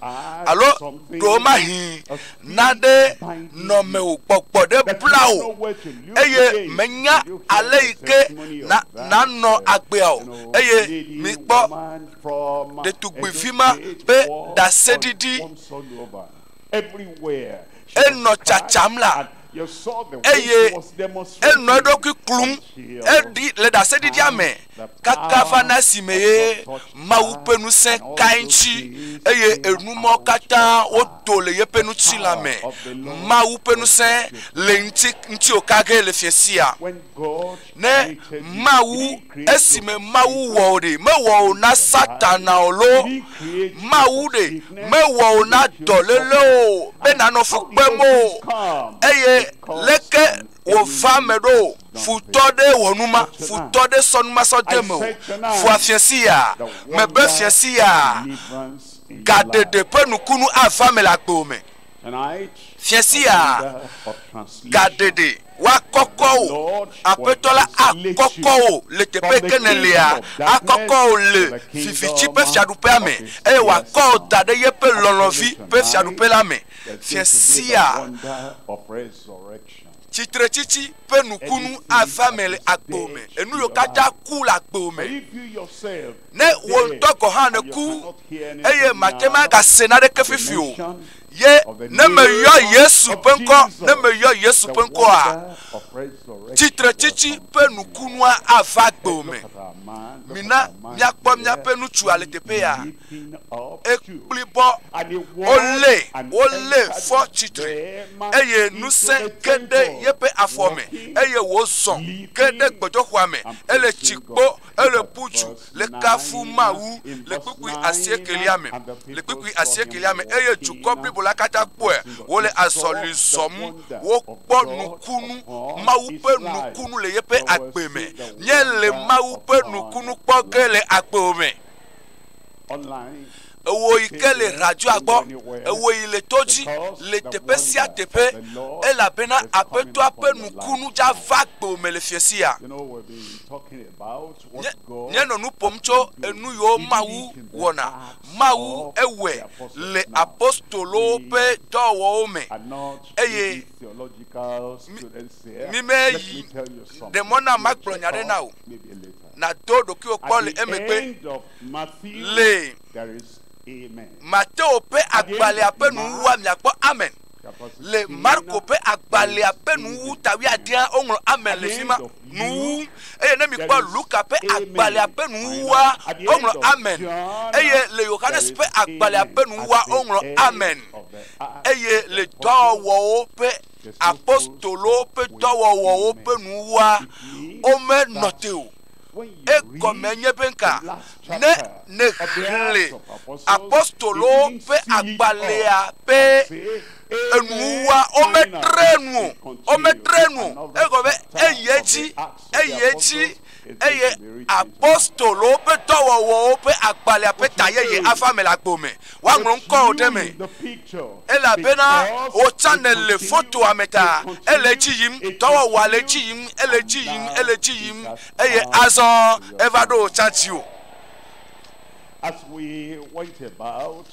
alo ɖewomahĩ naɖe nɔ mewò gbɔgbɔ ɖe bla wò, eye mènya ale yi ke na nànɔ agbea o. Eye mikpɔ ɖetugbuivi ma ƒe ɖaseɖiɖi. Enɔ tsatsam la eye enɔ eɖokui klum eɖi le ɖaseɖiɖia me kaka va na si me ye Mawu ƒe ŋusẽ kae ŋuti eye enu mɔ katã wodo le yeƒe ŋutilã me. Mawu ƒe ŋusẽ le ŋuti ŋuti o kage le fiesia. ne Mawu, esime Mawu wɔ o ɖe, mewɔ o na Satana o loo, Mawu ɖe mewɔ o na dɔléle o, be nanɔ fu kpem o, eye leke wòva me ɖo? Futɔ ɖe wɔ nu ma, futɔ ɖe sɔ nu ma sɔ de eme o. Fua fia siaa, mebe fia siaa, gaɖeɖe ƒe nukunu ava me le agbewo me. Fia siaa, gaɖeɖe. woakɔkɔ wò. Aƒetɔ la akɔkɔ wò le teƒe yi ke nèlea, akɔkɔ wò le viviti ƒe fiaɖuƒea me, eye wòakɔ wò da ɖe yeƒe lɔlɔ̃vi ƒe fiaɖuƒe la me. Fia sia tsitretsitsi ƒe nukunu ava eme le agbo me. Enu yiwo katã ku le agbo me. Ne wò ŋutɔ gɔ̃ hã nèku eye màte ŋu agase naneke fifi o ye ne meyɔ Yesu ƒe ŋkɔ, ne meyɔ Yesu ƒe ŋkɔa, tsitretsitsi ƒe nukunua ava gbeo me. Mina míakpɔ míaƒe nutsua le teƒe ya. Ekpli bɔ, wolé, wolé fɔ tsitre, eye ŋusẽ ke ɖe yeƒe afɔ me, eye wòzɔ ke ɖe gbɔdzɔxɔa me. Ele tsi kpo Ele ƒu du le kafu Mawu le kpukpui asiekɛlia me, le kpukpui asiekɛlia me, eye dukɔ blibo la katã kpɔe wòle azɔli zɔm. Wokpɔ nukunu, Mawu ƒe nukunu le yeƒe agbe me. Míele Mawu ƒe nukunu kpɔ ge le agbewo me. ewò yi ke le radzɔa gbɔ, ewò yi le to dzi, le teƒe sia teƒe, elabena Aƒetɔa ƒe nukunu dza va kpeo me le fiesia. Nye, nye nɔ nu ƒom tso enu yiwo Mawu wɔna. Mawu ewɔe le apostolowo ƒe dɔwɔwɔwo me, eye mi, mi meyi ɖe mɔ nam magblɔ nya aɖe na wò, nàdo ɖokuiwò kpɔ le emegbe. lee. Mateo ƒe agbalẽa ƒe nuwuwua miakpɔ Amen. Le Marko ƒe agbalẽa ƒe nuwuwu ta wuiadea woŋlɔ Amen le fi ma nuwuwu eye ne mikpɔ Luka ƒe agbalẽa ƒe nuwuwua woŋlɔ Amen eye le Yohanes ƒe agbalẽa ƒe nuwuwua woŋlɔ Amen eye le dɔwɔwɔwo ƒe apostolowo ƒe dɔwɔwɔwo ƒe nuwuwua womenɔ te o. Egɔme nye be ŋka? Ne nèxlẽ apostolowo ƒe agbalẽa ƒe enuwuwua, wometre nu o, wometre nu o. Egɔme be eyi edzi, eyi edzi, eye apostolowo ƒe dɔwɔwɔwo ƒe agbalẽa ƒe ta yeye ava eme le agbo me. woaŋlɔ ŋkɔwò ɖe eme, elabena wò tsãme le fotoa me ta. Ele edzi yim, dɔwɔwɔa le edzi yim, ele edzi yim, ele edzi yim, eye azɔ eva ɖo wò tsã dziwò.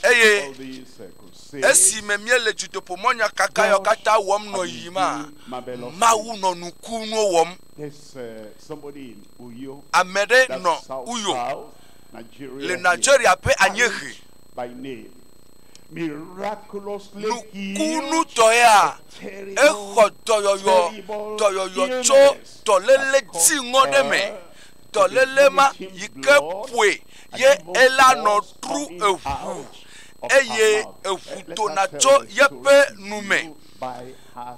Eye esime míele dzodoƒemɔnya kakayɔ katã wɔm nɔ yiyima, Mawu nɔ nukunuwo wɔm. Ame ɖe nɔ Uyo, le Nigeria ƒe anyiehe. Nukunutɔea, exɔ dɔyɔyɔ dɔyɔyɔ tso dɔléle dziŋɔ ɖe me. Dɔléle ma yi ke ƒoe ye ela nɔ ɖu eŋu eye eŋu dona tso yeƒe nu me.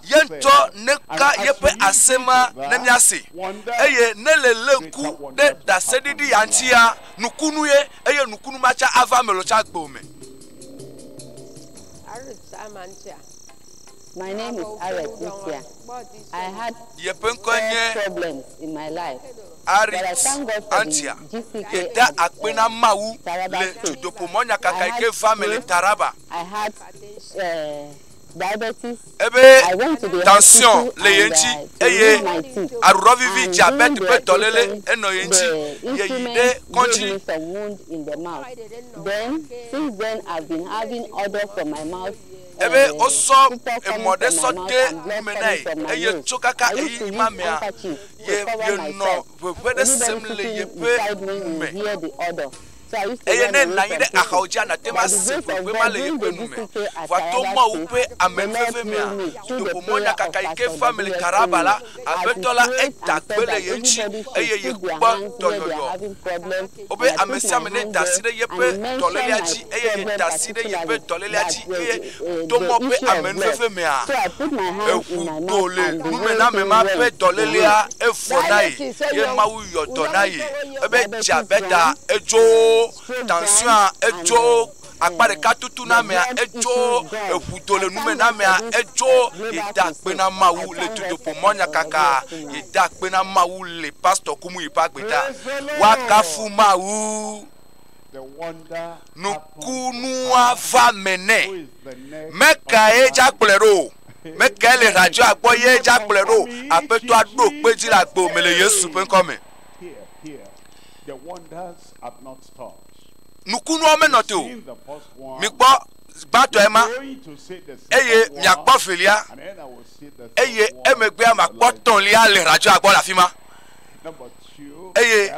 Ye ŋutɔ neka yeƒe ase ma ne míase, eye ne le lé ŋku ɖe ɖaseɖiɖi ya ŋutia, nukunu ye, eye nukunu ma tsa ava ame lɔtsa gbɔ me. My name is Aret Nsia. I had yeƒe ŋkɔe nye Aret Antia. Yeda akpe na Mawu le dudoƒo mɔnyakaka yi ke va me le Taraba. I had uh, Ebe tansyiɔn le ye ŋuti eye aɖuɖɔvivi dze abe teƒe dɔléle enɔ ye ŋuti. Yeyi ɖe kɔdzi. Ebe wosɔ emɔ ɖe sɔ de nume na ye eye tso kaka ɣeyiɣi ma mea ye yenɔ ŋeŋe ɖe sem le yeƒe nu me. Eye ne ènɔ anyi ɖe axaodzia, nàte ŋu ase ƒueƒue ma le yeƒe nu me. Vɔa to Mawu ƒe amenuveve mea, ƒudoƒo mɔnyakaka yi ke fea ame le Taraba la, Aƒetɔ la eda kpe le ye ŋuti, eye yekpɔ dɔyɔyɔ. Wobe amesiame neda asi ɖe yeƒe dɔlélea dzi, eye yeda asi ɖe yeƒe dɔlélea dzi, eye to mɔ ƒe amenuveve mea, eŋu go le numename ma ƒe dɔlélea evɔ na ye, ye Mawu yɔ dɔ na ye ebe tsia beda edzo tansioa edzo akpa ɖeka tutunamea edzo eŋu do le numenamea edzo ye da akpe na Mawu le dudoƒo mɔ nyakaka ye da akpe na Mawu le pastor ku mu yi ƒe agbeta wa kafu Mawu. nukunua va me nɛ. Mekae dza kplɔe ɖo? Mekae le radzɔa gbɔ ye dza kplɔe ɖo? Aƒetɔa ɖo kpe dzi le agbo me le Yesu ƒe ŋkɔ me. Nukunua menɔ te o. Mikpɔ gbãtɔe ma eye miakpɔ velia eye emegbea makpɔ tɔ̃lia le radzɔa gbɔ le afi ma. eye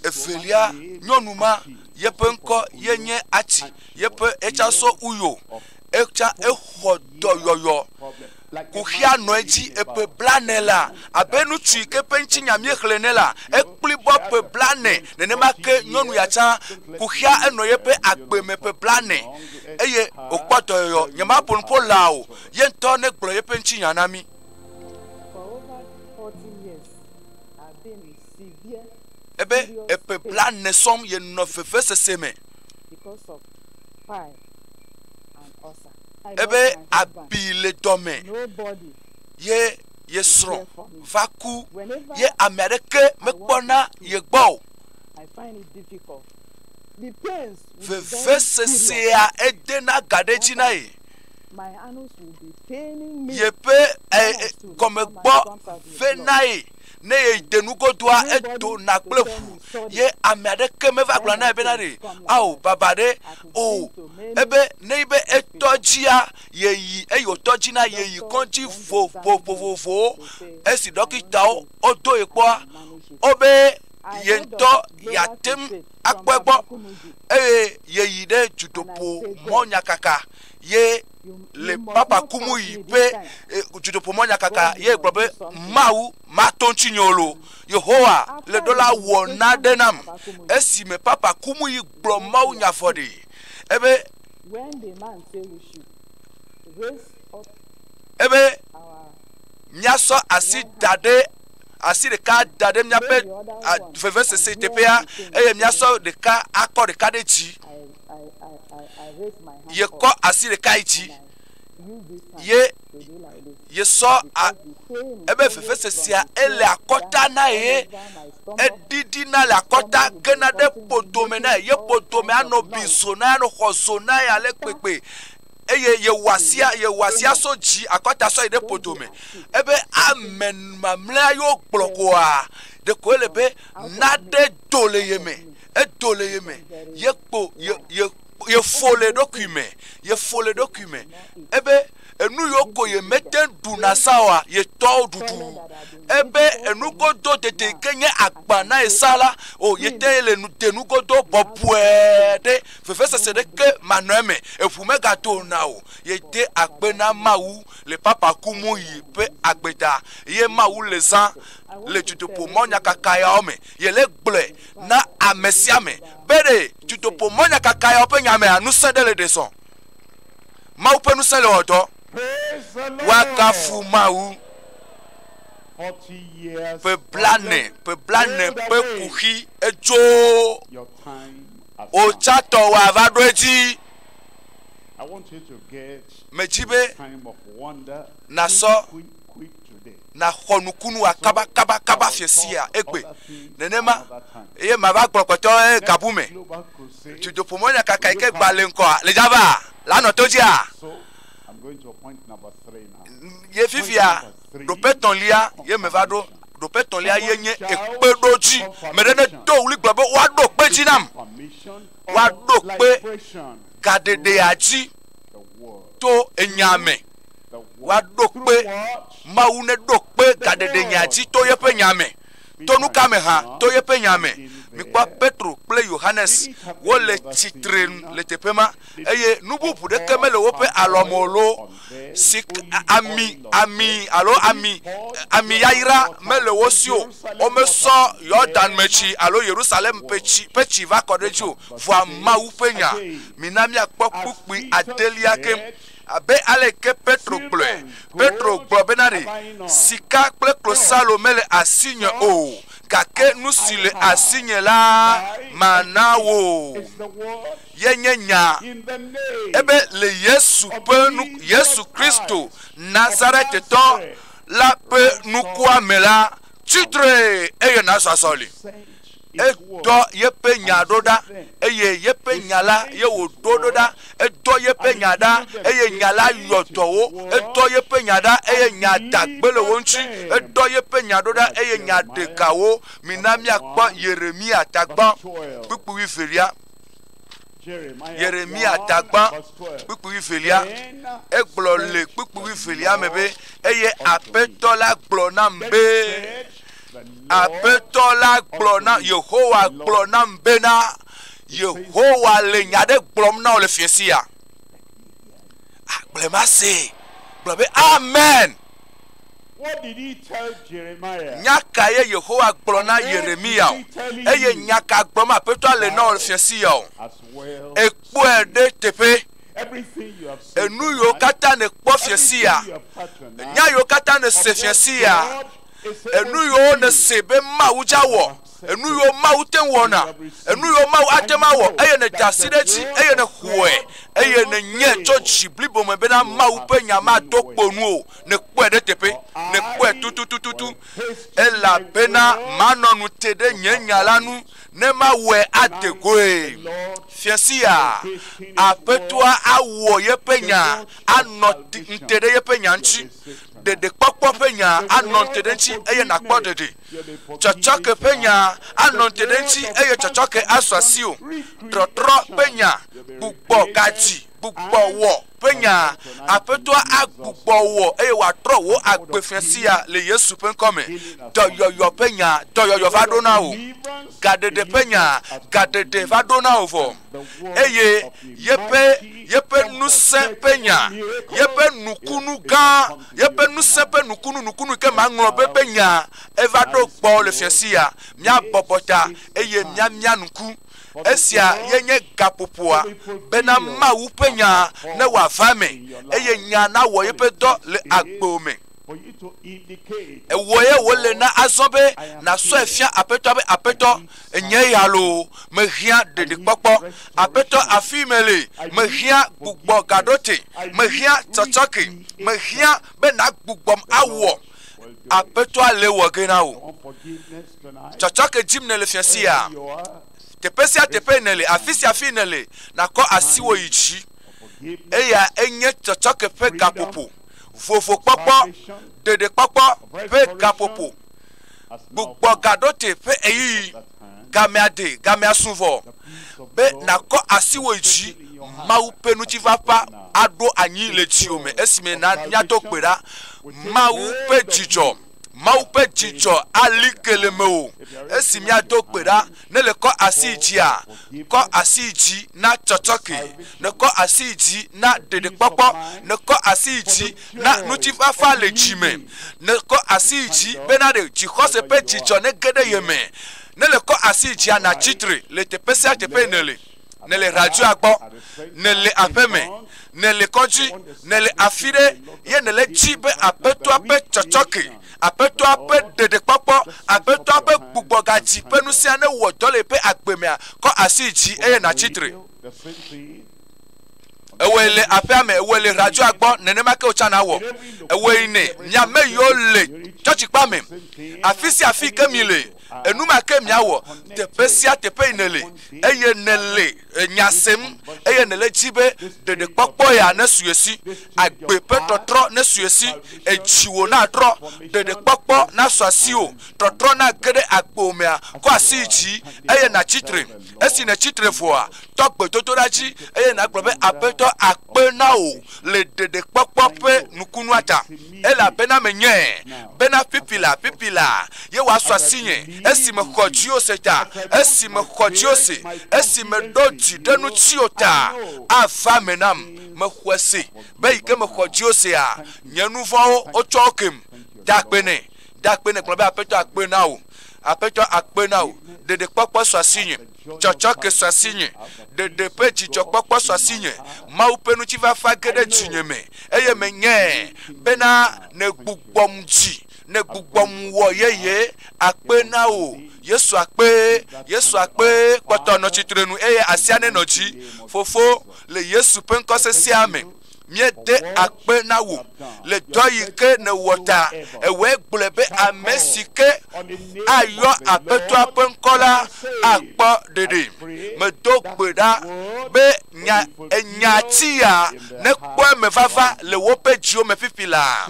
evelia nyɔnu ma yeƒe ŋkɔ ye nye Atsi yeƒe etsa sɔ Uyo etsa exɔ dɔyɔyɔ kuxia nɔ edzi eƒe blane la abe ŋutsu yi ke ƒe ŋutinya míexlẽ ne la ekpli bɔ ƒe blane nenema ke nyɔnu ya tsã kuxia enɔ yeƒe agbe me ƒe blane eye wòkpɔ dɔyɔyɔ nyemaƒo nu ƒo la o ye ŋutɔ negblɔ yeƒe ŋutinya na mí Ebe eƒe blaene sɔm yenɔ vevesese me. Ebe abi le dɔme ye ye srɔ̃ va ku ye ame aɖeke mekpɔna ye gbɔ o. Vevesesea edena ga ɖe edzi na ye. yeƒe gɔme gbɔ ve nae ne yede nugodoa edona kple ʋu ye ame aɖeke meva gblɔ nae bena ɖe ao baba ɖe o ebe ne be etɔ dzia yeyi eye wòtɔ dzi na yeyi kɔdzi vovovovowo esi ɖɔkitawo wodo ye kpɔa wobe ye ŋutɔ yeate ŋu akpɔe gbɔ, eye yeyi ɖe dzodoƒo mɔ nyakaka ye le papa kumu yi be eh, dzodoƒo mɔ nyakaka ye gblɔ be mawu mato ŋuti nyolo yehowa le ɖola wɔ naɖe nam esi me papa kumu yi gblɔ mawu nyafɔ ɖi ebe ebe míasɔ asi da ɖe asi ɖeka da ɖe míaƒe vevesese teƒea eye míasɔ ɖeka akɔ ɖeka ɖe dzi yekɔ asi ɖeka yi dzi ye yesɔ ebe vevesesea ele akɔta na ye eɖiɖina le akɔta gena ɖe ƒodome na ye ƒodome anɔ bizo na anɔ xɔzo na ye ale gbegbe eye yewɔa sia yewɔa sia so dzi akɔta sɔ yi ɖe poto me ebe ame mamlɛa yewo kplɔ koa ɖeko ele be naɖe do le ye me edo le ye me yekpo ye ye yefo le ɖokui me yefo le ɖokui me ebe enu yiwo ko ye mete ɖu na sa oa yetɔwo ɖuɖu ebe enu godo tete ke nye agba na ye sa la o yete le nu de nu godo bɔbɔe ɖe vevesese ɖeke manɔ eme, eŋu megato o na wò. Yede akpe na Mawu le Papa ku mu ɣi ƒe agbeda ye Mawu le zã le dutoƒo mɔnyakaka yawo me. Yele gblɔe na ame sia ame be ɖe dutoƒo mɔnyakaka yawo ƒe nya mea, ŋusẽ ɖe le ɖe zɔ. Mawu ƒe ŋusẽ le wɔ dɔ. Woagafu Mawu. Ƒe blane, ƒe blane ƒe kuxi edzo. wò tsãtɔ wòava ɖo edzi. Medi be nàsɔ nàxɔ nukunu wa kaba kaba kaba fie sia egbe nenema eye mava gblɔ kpɔtɔ eye gabu me dudoƒomɔ nya kaka yi ke gba le ŋkɔa le dzava lanɔ to dzia ye fifia Ɖoƒe etɔ̃lia ye meva ɖo. Ɖoƒe etɔ̃lia ye nye ekpeɖodzi. Me ɖe nedo ɣli gblɔ be, Woaɖo kpe dzi nam. Woaɖo kpe gaɖeɖea dzi to enya me. Woaɖo kpe, Mawu neɖo kpe gaɖeɖenyea dzi to yeƒe nya me. To nu ka me hã? To yeƒe nya me. Mikpɔ Petro kple Yohanes, wole tsitre le teƒe ma. eye nu bubu ɖeke mele woƒe alɔ me o loo, sika, ami, ami alo ami, ami yayra mele wo si o. Womesɔ Yordan me tsi alo Yerusalem ƒe tsi, ƒe tsi va kɔ ɖe edzi o. Vɔa Mawu ƒe nya, mina míakpɔ kpukpui adelia keŋ. Abe aleke Petro gblɔe, Petro gblɔ bena ɖe, Sika kple klosalo mele asinye o, gake nu si le asinye la, mana wò. ye nye nyaa, ebe le Yesu ƒe nu, Yesu Kristo Nazaretitɔ la ƒe nukua me la, tsi tre eye nasu asɔli. Edɔ yeƒe nya ɖo ɖa eye yeƒe nya la ye wòɖo ɖo ɖa. Edɔ yeƒe nya ɖa eye nya la yɔ dɔ wo. Edɔ yeƒe nya ɖa eye nya da gbe le wo ŋuti. Edɔ yeƒe nya ɖo ɖa eye nya ɖe ga wo. Mina míakpɔ Yeremiya tagbɔ kpukpui wuivelia. Yeremiya dagbã kpukpu wuivelia, egblɔ le kpukpu wuivelia me be, eye aƒetɔ la gblɔ nam be, aƒetɔ la gblɔ na yehowa gblɔ nam bena yehowa le nya aɖe gblɔm na wò le fiẽ sia agblema see gblɔ be amen Nya kae Yehowa gblɔ na Yeremiya o, eye nya ka gblɔm Aƒetɔa le na wò le Fia Siriya o? Èkpɔe ɖe teƒe. Enu yiwo katã nèkpɔ Fia Siriya, nya yiwo katã nèse Fia Siriya, enu yiwo nèse be Mawu dze awɔ, enu yiwo Mawu te ŋu wɔna, enu yiwo Mawu ate ŋu awɔ, eye nèda asi ɖe edzi, eye nèxɔe, eye nènyae tso dzi blibo me bena Mawu ƒe Nya mado kpo nu o, nèkpɔe ɖe teƒe, nèkpɔe tutututu, elabena manɔ nu te ɖe nye Nya la nu, ne mawɔe ade goe. Fia sia, Aƒetɔa awɔ yeƒe Nya, anɔ te ɖe yeƒe Nya ŋuti, ɖeɖekpɔkpɔ ƒe Nya, anɔ te ɖe eŋuti, eye nàkpɔ ɖeɖe. Tsɔtsɔke ƒe nya anɔ te ɖe ŋuti eye tsɔtsɔke asɔ asiwò. Trɔtrɔ ƒe nya, gbugbɔ gadzi, gbugbɔ wɔ ƒe nya. Aƒetɔa agbugbɔ wɔ eye wòatrɔ wò agbe fia sia le Yesu ƒe ŋkɔ me. Dɔyɔyɔ ƒe nya, dɔyɔyɔ va ɖo na wò. Gaɖeɖe ƒe nya, gaɖeɖe va ɖo na wò vɔ. eye yeƒe, yeƒe ŋusẽ ƒe nya, yeƒe nukunu gã, yeƒe ŋusẽ ƒe nukunu, nukunu ke maŋlɔ be ƒe nya eva ɖo gbɔ le fiasia. Míabɔbɔ ta eye míamia ŋku. Esia ye nye gaƒoƒoa, bena Mawu ƒe nya ne wòava eme eye nya nawɔ yeƒe dɔ le agbo me. Ewɔe wòle na azɔ be nàsɔe fia Aƒetɔa be, Aƒetɔ, nye ya loo, mehiã ɖeɖikpɔkpɔ. Aƒetɔ, afii mele, mehiã gbugbɔgaɖote, mehiã tsɔtsɔke, mehiã be nàgbugbɔm awɔ. Aƒetɔa le wɔ ge na wò. Tsɔtsɔke dim nèle fia sia, teƒe sia teƒe nèle, afi sia afi nèle, nàkɔ asiwò yi dzi. Eya enye tsɔtsɔke ƒe gaƒoƒo. vovokpɔkpɔ, ɖeɖekpɔkpɔ ƒe gaƒoƒo, gbugbɔ gaɖote ƒe ɣeyiɣi, gamea de, gamea su vɔ, be nàkɔ asiwò yi dzi, Mawu ƒe ŋutifafa aɖo anyi le dziwò me esime nànya to gbe ɖa Mawu ƒe dzidzɔ. Mawu ƒe dzidzɔ ali ke le mewò esi míado gbe ɖa. Ne le kɔ asi yi dzia, kɔ asi yi dzi na tsɔtsɔke. Ne kɔ asi yi dzi na ɖeɖekpɔkpɔ. Ne kɔ asi yi dzi na ŋutifafa le dzi me. Ne kɔ asi yi dzi bena ɖe dzixɔse ƒe dzidzɔ nege ɖe ye me. Ne le kɔ asi yi dzia, nàtsi tre le teƒe sia teƒe yi nèle. nèle radzɔa gbɔ, nèle aƒeme, nèle kɔdzi, nèle afi ɖe, ye nèle dzi be Aƒetɔa ƒe tsɔtsɔke, Aƒetɔa ƒe ɖeɖekpɔkpɔ, Aƒetɔa ƒe gbugbɔgadzi ƒe nusia newɔ dɔ le eƒe agbe mea, kɔ asi yi dzi eye nàtsi tre. Ewɔe le aƒea me, ewɔe le radzɔa gbɔ, nenema ke wòtsã nawɔ. Ewɔe nɛ. Mia me yiwo le tsɔtsikpea me, afi sia afi ke mi le, Enuma ke miawɔ teƒe sia teƒe yi nèle, eye nèle nya sem, eye nèle edzi be ɖeɖekpɔkpɔ ya nesu esi, agbe ƒe tɔtrɔ nesu esi, edziwò natrɔ, ɖeɖekpɔkpɔ nasu asiwò, tɔtrɔ nage ɖe agbo mea, kɔ asi yi dzi, eye nàtsi tre. Esi nètsi tre vɔa, tɔ gbedodoɖa dzi, eye nàgblɔ be, Aƒetɔ, akpe na wò le ɖeɖekpɔkpɔ ƒe nukunua ta. Elabena menyae bena pipi la pipi la ye wòasu asinye, esi mexɔ dziwò se ta, esi mexɔ dziwò se, esi meɖo dzi ɖe ŋutiwò ta, ava eme nam. Mexɔe se be yi ke mexɔ dziwò sea, nye nu vɔ̃wo wotsɔ wo kem. Da akpe nɛ. Da akpe nɛ. Gblɔ be, Aƒetɔ, akpe na wò. Aƒetɔ, akpe na wò. Ɖeɖekpɔkpɔ su asinye. tsɔtsɔke sɔ asinye, ɖeɖe ƒe dzidzɔkpɔkpɔ sɔ asinye, Mawu ƒe ŋutifafa ge ɖe dzinye me, eye menyae bena nègbugbɔm dzi, nègbugbɔm wɔ yeye akpe na wò. Yesu akpe, Yesu akpe, kpɔtɔ nɔ tsitrenu eye asia nenɔ dzi. Fofo, le Yesu ƒe ŋkɔ sesẽa me. míede akpe na wò le dɔ yi ke nèwɔ ta. Ewɔe gblɔe be ame si ke ayɔ aƒetɔa ƒe ŋkɔ la akpɔ ɖeɖe. Medo gbe ɖa be nya enya ti ya nekpɔ eme vava le woƒe dziwo me fifi la.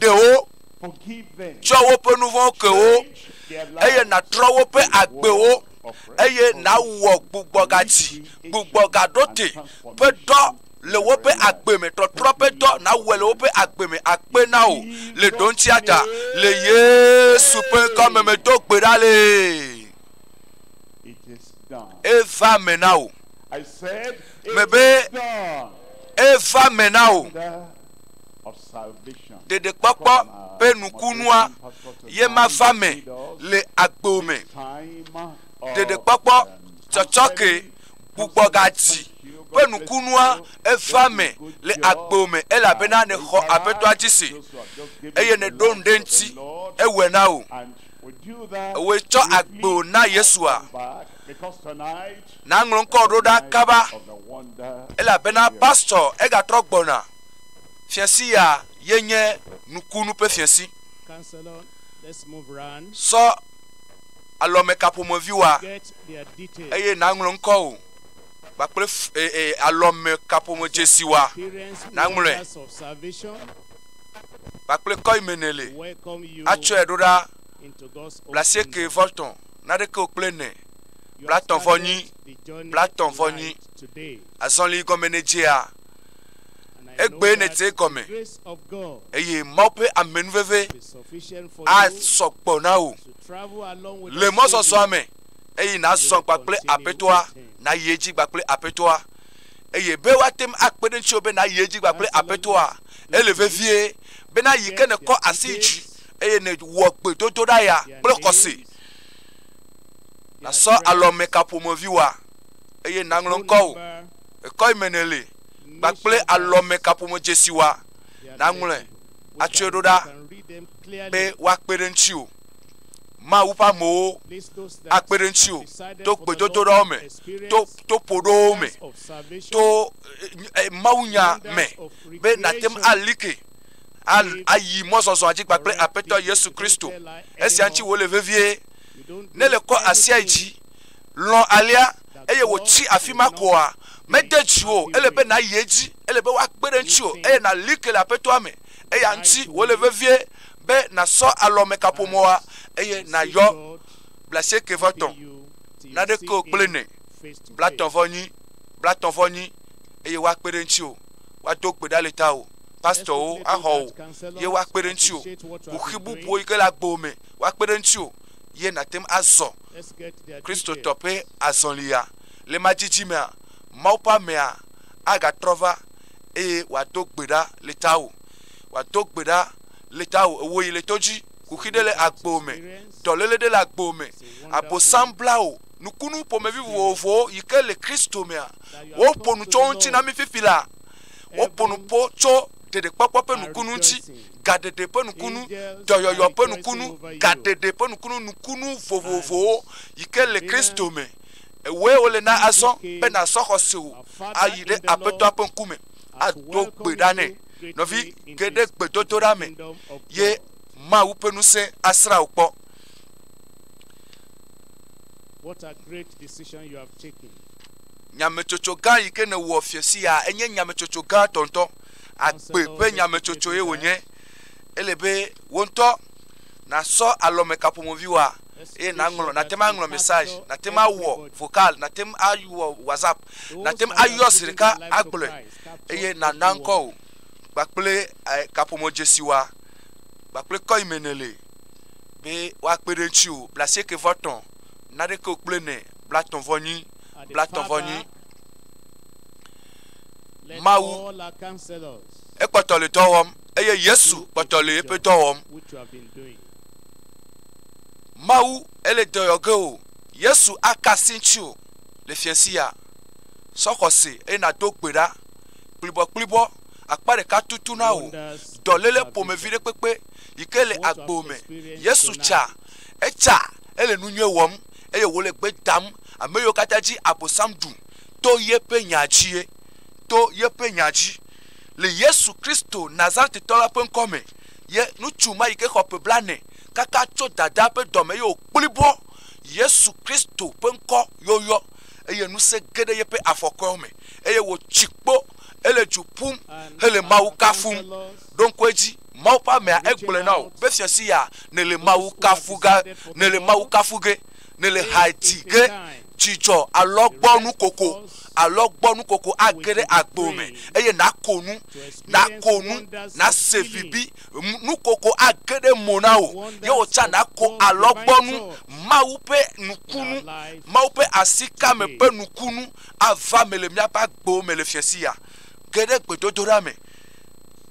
Ɖe wo tsɔ woƒe nu vɔ̃wo ke wo eye nàtrɔ woƒe agbewo eye nàwɔ gbugbɔgadzi gbugbɔgaɖote ƒe dɔ le woƒe agbe me trɔtrɔ ƒe dɔ nawɔe le woƒe agbe me akpe na o le ɖoŋtsia ta le yesu ƒe ŋkɔ me medo gbe ɖa le eva me na o mebe eva me na o ɖeɖekpɔkpɔ ƒe nukunua ye mava me le agbo me ɖeɖekpɔkpɔ tsɔtsɔke gbugbɔ gati ƒe nukunua eva me le agbo me elabena nèxɔ aƒetɔa dzi se eye nèɖo nu ɖe eŋuti ewɔe na wò ewɔe tsɔ agbo na yesua naŋlɔ ŋkɔ ɖo ɖa kaba elabena pastor egatrɔ gbɔna fiasi ya yenye nukunu ƒe fiasi sɔ alɔmeka ƒomeviwoa, eye nàŋlɔ ŋkɔwò kpakple alɔmeka ƒomedzesiwoa, nàŋlɔe kpakple kɔ yi me nèle atsɔe ɖo ɖa. Blasieke vɔ tɔ̃, naɖeke wò kple ene, blatɔ̃ vɔ nyi, blatɔ̃ vɔ nyi. Azɔli gɔme nèdzea? egbee nète gɔme eye Mawu ƒe amenuveve asɔ gbɔ na wò le mɔzɔzɔa me eye nàzɔ kpakple aƒetɔa nayi edzi kpakple aƒetɔa eye be woate ŋu akpe ɖe ŋutiwò be nayi edzi kpakple aƒetɔa ele vevie bena yi ke nèkɔ asi yi dzi eye nèwɔ gbedodoɖa ya kple xɔse nasɔ alɔmekaƒomevi wa eye naŋlɔ ŋkɔwò ekɔemeneli kpakple alɔmekaƒome dzesiwa nàŋlɔe atsɔe ɖo ɖa be woakpe ɖe ŋutiwò. Mawu ƒe amewo akpe ɖe ŋutiwò to gbedodoɖawo me, to to ƒoɖowo me, to mawunya me be nàte ŋu ali ke ayi mɔzɔzɔa dzi kpakple Aƒetɔ Yesu Kristo. Esia ŋuti wòle vevie. Ne le kɔ asia yi dzi, lɔ̃ alea. eye wòtsi afi ma koa? Mede dzi o. Ele be nàyi edzi. Ele be woakpe ɖe ŋutiwò eye nàli ke le Aƒetɔa me. Eya ŋuti wòle vevie be nàsɔ alɔmekaƒomɔa eye nàyɔ blaasiekɛvɔtɔ̃ naɖekewo kple nɛ, blatɔ̃vɔnyi, blatɔ̃vɔnyi, eye woakpe ɖe ŋutiwò. Woado kpe ɖa le tawò. Pastorwo axɔ wò ye woakpe ɖe ŋutiwò. Kuxi bubuwo yi ke le agbewò me, woakpe ɖe ŋutiwò ye nàte ŋu azɔ. Kristotɔ ƒe azɔlia. Le madzidzi mea, Mawu ƒe amea agatrɔ va eye wòado gbe ɖa le tawò. Wòado gbe ɖa le tawò. Èwɔ yi le to dzi. Kuxi ɖe le agbo me. Dɔléle ɖe le agbo me. Abosam bla wò. Nukunu ƒomevi vovovowo yi ke le Kristo mea, woƒo nu tso wo ŋuti na mí fifi la. Woƒo nu ƒo tso ɖeɖekpɔkpɔ ƒe nukunu ŋuti. gaɖeɖe ƒe nukunu, dɔyɔyɔ ƒe nukunu, gaɖeɖe ƒe nukunu, nukunu vovovowo yi ke le Kristo me. Ewɔe wole na azɔ be nàsɔ xɔsewò ayi ɖe Aƒetɔa ƒe ŋkume ado gbe ɖa nɛ. Nɔvi, ge ɖe gbedodoɖa me, ye Mawu ƒe ŋusẽ asrã wò kpɔ. Nyametsotso gã yi ke nèwɔ fie sia enye nyametsotso gãtɔ ŋutɔ. agbe ƒe nyametsotsoe wònye. Ele be wò ŋutɔ nàsɔ alɔmekaƒomɔviwòa eye nàŋlɔ, nàte ŋu aŋlɔ message, nàte ŋu awɔ vocal, nàte ŋu awɔ WhatsApp, nàte ŋu ayɔ zi ɖeka agblɔe eye nàna ŋkɔ wò kpakple kaƒomɔdzesiwòa kpakple kɔ yi me nèle be woakpe ɖe ŋutiwò. Bla asieke vɔ tɔ̃, naɖekeo kple ne, bla tɔ̃ vɔ nyi, bla tɔ̃ vɔ nyi. Mawu ekpɔtɔ le dɔ wɔm eye Yesu kpɔtɔ le eƒe dɔ wɔm. Mawu ele dɔyɔ ge o. Yesu aka si ŋuti o le fiasi ya. Sɔ xɔse eye nàdo gbe ɖa kplibɔkplibɔ akpa ɖeka tutu na wò dɔléle ƒomevi ɖe kpekpe yi ke le agbo me. Yesu tsa etsa ele nu nyui wɔm eye wòle gbe dam ame yiwo katã dzi Abosam ɖu to yeƒe nya dzie, to yeƒe nya dzi. Le Yesu Kristo Nazaretitɔ la ƒe ŋkɔ me, ye ŋutsu ma yi ke xɔ ƒe blaene kaka tso dadaa ƒe dɔme eye wòkpli bɔ, Yesu Kristo ƒe ŋkɔ yɔyɔ, eye ŋusẽ ge ɖe yeƒe afɔkɔewo me, eye wòtsi kpo hele du ƒum hele Mawu kafum. Ɖo ŋku edzi, Mawu ƒe amea, egblɔe na wò be, Fiasia, nèle Mawu kafu ge, nèle Mawu kafu ge. nèle hati ge dzidzɔ alɔgbɔnukoko, alɔgbɔnukoko age ɖe agbo me eye nàko nu, nàko nu, nàse vibi, nukoko age ɖe mo na wò, ye wò tsã nàko alɔgbɔnu, Mawu ƒe nukunu, Mawu ƒe asikame ƒe nukunu ava me le míaƒe agbo me le fiasiya. Ge ɖe gbedodoɖa me.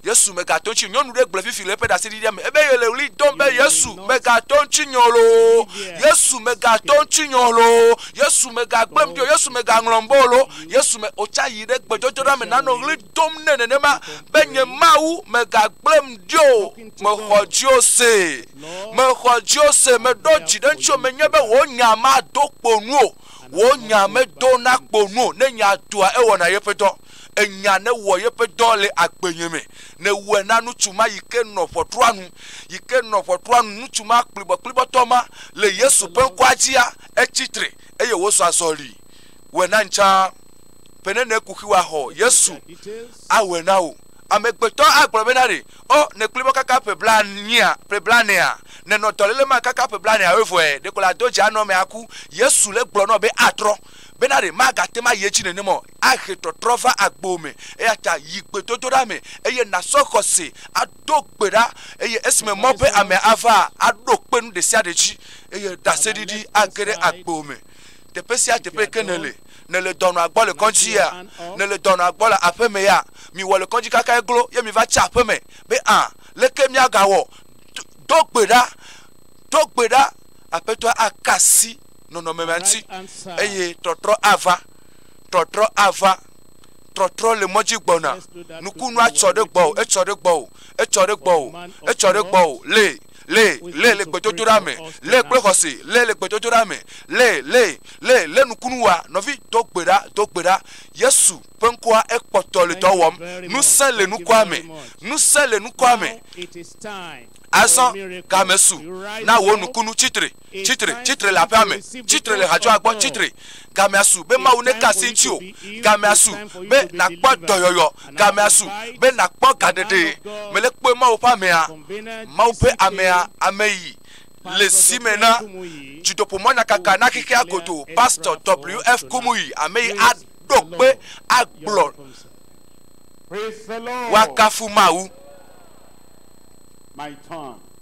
Yesu, mègato ŋutsi. Nyɔnu ɖe gblɔe fifi le eƒe ɖaseɖiɖia me. Ebe yele ɣli dom be, Yesu, mègato ŋutsi nye o loo. Yesu, mègato ŋutsi nye o loo. Yesu, mègagblẽm ɖi o. Yesu, mègaŋlɔm be o loo. Yesu, me, wòtsa yi ɖe gbedɔdɔɖa me nanɔ ɣli dom nɛ nenema be, Nye Mawu, mègagblẽm ɖi o. Mexɔ dziwò se. Mexɔ dziwò se. Meɖo dzi ɖe ŋutsiwò. Menye be wò nya mado kpo nu o. Wò nya medo na kpo nu o. Ne nya doa, ewɔna yeƒe dɔ. enya ne wɔ yeƒe dɔ le agbenye me, ne wɔe na nutsu ma yi ke nɔ ʋɔtrua nu, yi ke nɔ ʋɔtrua nu, nutsu ma kplibɔkplibɔtɔ ma le Yesu ƒe ŋkɔa dzia, etsi tre, eye wòzɔ azɔli. Wɔe na ŋtsa, be ne nèkuxi wòaxɔ Yesu awɔe na wò. Amegbetɔ agblɔ be na ɖe, ɔ, nèkpli bɔ kaka ƒe blanea, ƒe blanea, nènɔ dɔléle ma kaka ƒe blanea woe vɔe, ɖeko la do dzi anɔ me aku. Yesu le gblɔ nɔ be atrɔ, be na ɖe magate ma yi edzi nenem ɔ. ahe tɔtrɔ va agbo me. Eya ta yi gbedodoɖa me eye nàsɔ xɔse ado gbe ɖa eye esime mɔ be ame avaa, aɖo kpe nu ɖe sia ɖe dzi eye ɖaseɖiɖi age ɖe agbo me. Teƒe sia teƒe yi ke nèle, nèle dɔnɔa gbɔ le kɔdzia, nèle dɔnɔa gbɔ le aƒemea, miwɔ le kɔdzi kaka eglo ye miva tsi aƒeme be aa, leke míagawɔ? Do gbe ɖa, do gbe ɖa. Aƒetɔa aka asi nɔnɔme ma ŋuti eye tɔtrɔ ava. trɔtrɔ ava trɔtrɔ le mɔdzi gbɔna nukunu atsɔ ɖe gbɔ o etsɔ ɖe gbɔ o etsɔ ɖe gbɔ o etsɔ ɖe gbɔ o le le le le gbedodoɖa me le kple xɔse le le gbedodoɖa me le le le le nukunu wa nɔvi do gbe ɖa do gbe ɖa yesu ƒe ŋkɔa ekpɔtɔ le dɔ wɔm nusẽ le nukua me nusẽ le nukua me azɔ game su na wò nukunu tsitre Tsi tre, tsi tre le aƒea me, tsi tre le hadzɔa gbɔ, tsi tre. Gamea su be Mawu neka asi ŋutiwò. Gamea su be nàkpɔ dɔyɔyɔ. Gamea su be nàkpɔ gaɖeɖe. Mele kpɔe Mawu ƒe amea, Mawu ƒe amea, ame yi le si me na dzidoƒemɔnyakaka na xexea godoo, Pastor W. F. Kumuyi, ame yi a ɖo kpe a gblɔ. Woakafu Mawu.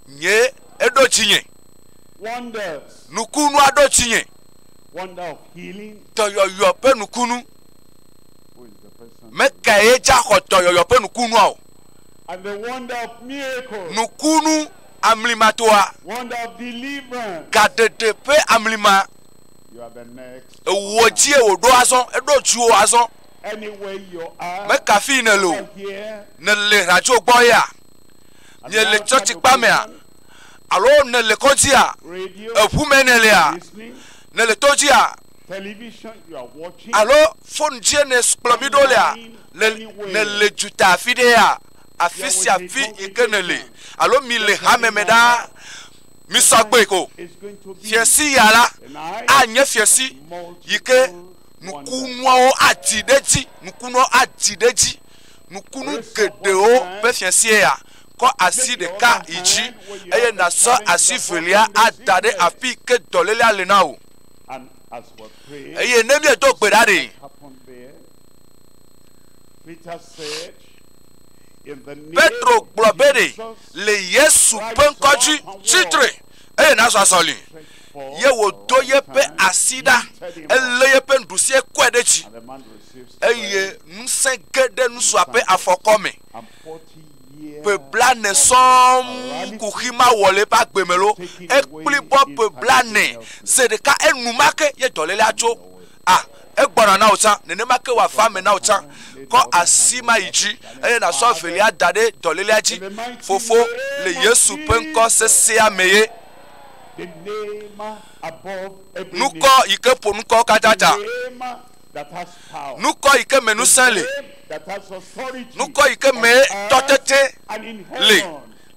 Nye, eɖo dzinye. Nukunu aɖewo tsi nye dɔyɔyɔ ƒe nukunu. Me kae ye dza xɔ dɔyɔyɔ ƒe nukunua o? Nukunu amlimatoa, gaɖeɖe ƒe amlima. Ewɔ dzie wòɖo azɔ, eɖo dziwò azɔ. Meka afii nèle o, nèle radio gbɔ yea? Miele tsɔtsikpamea? Alo nèle kɔdzia? Eŋu mee nèlea? Nèle to dzia? Alo fon dzie nèkplɔ mí ɖo lea? Nèle duta afi ɖea? Afi sia afi yi ke nèle. Alo mile hame me ɖaa. Misɔ agbɔe ko. Fiesi ya la anye fiesi yi ke nukunuawo adi ɖe edzi. Nukunuawo adi ɖe edzi. Nukunu geɖewo ƒe fiesie ya. kɔ asi ɖeka yi dzi, eye nàsɔ asi velia ada ɖe afi ke dɔlélea le na wò. Eye ne míedo gbe ɖa ɖe? Petro gblɔ be ɖe le Yesu ƒe ŋkɔ dzi tsi tre, eye nàzɔ azɔli. Ye wòdo yeƒe asi ɖa, elé yeƒe nuɖusi kɔe ɖe dzi, eye ŋusẽ ge ɖe nusua ƒe afɔkɔ me. ƒe blaene sɔŋ kuxi ma wɔ le eƒe agbe me loo, ekpli bɔ ƒe blaene. Ze ɖeka enumake ye dɔlélea tso. A, egbɔna na wò tsã. Nenema ke wòava eme na wò tsã. Kɔ asi ma yi dzi, eye nàsɔ evelia da ɖe dɔlélea dzi. Fofo, le Yesu ƒe ŋkɔ sesẽa mee. Nukɔ yi ke ƒo nu kɔwo katã ta. nukɔ yi ke me ŋusẽ le, nukɔ yi ke me tɔtete le.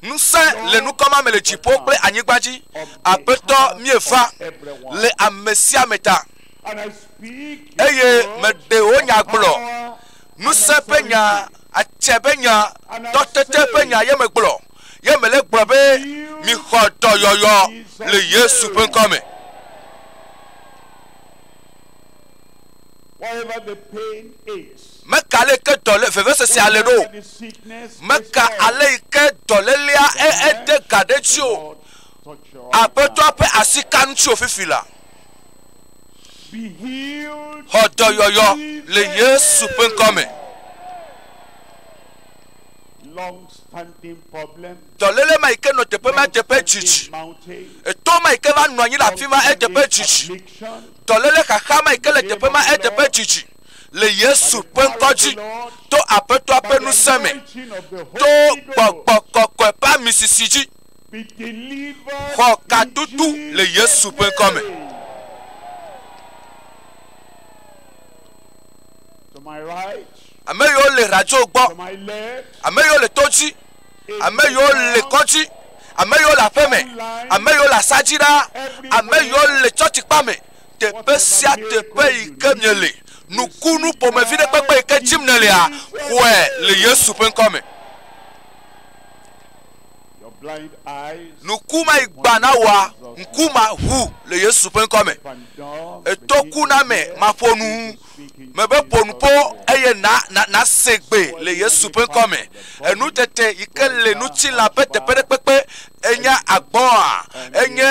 Ŋusẽ le nukɔ ma me le dziƒo kple anyigba dzi. Aƒetɔ míeva le ame sia ame ta eye meɖe wò nya gblɔ. Ŋusẽ ƒe nya, atse ƒe nya, tɔtete ƒe nya ye megblɔ. Ye mele gblɔ be mixɔ dɔyɔyɔ le Yesu ƒe ŋkɔ me. Meka ale yi ke dɔ le vevesesea le ɖo. Meka ale yi ke dɔlélea ede ga ɖe dzi o. Aƒetɔa ƒe asi ka ŋuti o fifi la. Xɔ dɔyɔyɔ le Yesu ƒe ŋkɔ me. dɔléle ma yi ke nɔ teƒe ma eteƒe dzidzi, eto ma yi ke va nɔ anyi le afi ma eteƒe dzidzi, dɔléle xaxa ma yi ke le teƒe ma eteƒe dzidzi le Yesu ƒe ŋkɔ dzi, to Aƒetɔa ƒe ŋusẽ me, to gbɔgbɔ kɔkɔe ƒe amisisi dzi. Xɔ katutu le Yesu ƒe ŋkɔ me. Ame yiwo le radio gbɔ, ame yiwo le to dzi. ame yiwo le kɔdzi ame yiwo le aƒe me ame yiwo le asa dzi ɖa ame yiwo le tsɔtsi kpa me teƒe sia teƒe yi ke miele nukunu ƒomevi ɖe kpekpe yi ke dzim nèlea xɔe le yesu ƒe ŋkɔ me nuku ma yi gba na wòa ŋku ma ʋu le yesu ƒe ŋkɔ me ètɔ ku na me maƒo nu me be ƒo nu ƒo eye na na na se gbe le Yesu ƒe ŋkɔ me. Enu tete yi ke le ŋutilã ƒe teƒeɖekpekpe enye agbɔ̃a, enye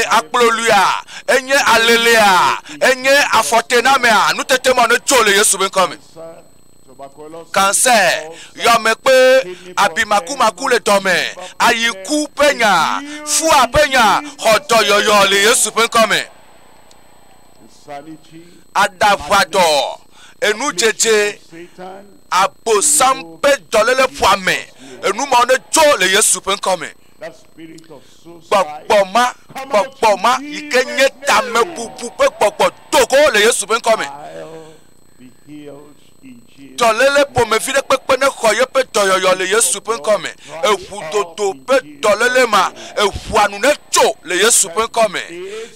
akplolua, enye alelea, enye afɔtenamea, nutete ma ne tso le Yesu ƒe ŋkɔ me. Cancer, yɔmekpe, abimakumaku le dɔme, ayiku ƒe nya, fua ƒe nya, xɔ dɔyɔyɔ le Yesu ƒe ŋkɔ me. aɖaʋadɔ, enudzedze, Abosam ƒe dɔléle ƒoame, enu mawo nedzo le Yesu ƒe ŋkɔ me. Gbɔgbɔ ma, gbɔgbɔ ma yi ke nye tamebubu ƒe gbɔgbɔ do go le Yesu ƒe ŋkɔ me. Dɔléle ƒomevi ɖe kpekpe nexɔ yeƒe dɔyɔyɔ le Yesu ƒe ŋkɔ me. Eŋu dodo ƒe dɔléle ma, eŋua nu netso le Yesu ƒe ŋkɔ me.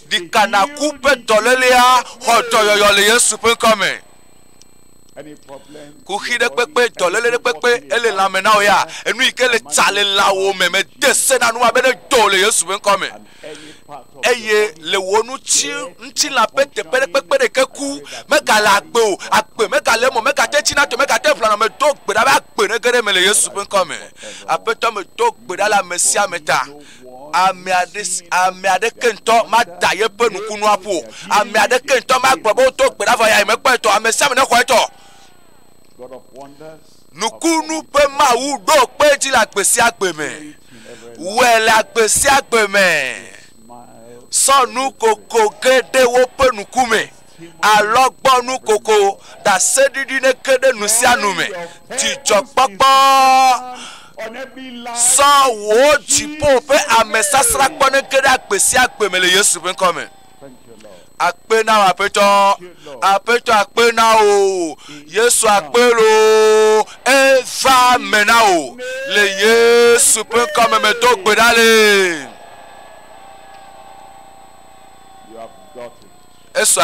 Ɖika naku ƒe dɔlélea xɔ dɔyɔyɔ le Yesu ƒe ŋkɔ me. Kuxi ɖe kpekpe, dɔléle ɖe kpekpe, ele lãme na wò ya, enu yi ke le tsa le lãwò me, mede se na nua be nedo le Yesu ƒe ŋkɔ me. eye le wò ŋuti ŋutilã ƒe teƒe ɖe kpekpe ɖeke ku megale agbe o agbe megale eme megate tsi na to megate ʋlana me do gbe ɖa be agbe nege ɖe me le yesu ƒe ŋkɔ me aƒetɔ me do gbe ɖa le ame sia ame ta ame aɖe ame aɖeke ŋutɔ mada yeƒe nukunua ƒo ame aɖeke ŋutɔ magblɔ be wodo gbe ɖa vɔ ya yemekpɔ etɔ ame sia ame nexɔ etɔ nukunu ƒe Mawu ɖo kpe dzi le agbe sia agbe me. Wɔe le agbe sia agbe me. Sɔ nu koko ge ɖe woƒe nuku me. Alɔgbɔnu koko ɖaseɖiɖi ne ge ɖe nu sia nu me. Dzidzɔkpɔkpɔ sɔ wò dziƒo ƒe amesasra kpɔ ne ge ɖe agbe sia agbe me le Yesu ƒe ŋkɔ me. Akpe na wò aƒetɔ. Aƒetɔ akpe na wò. Yesu akpe lo. Eva me na wò. Le Yesu ƒe ŋkɔ me medo gbe ɖa le. Esɔ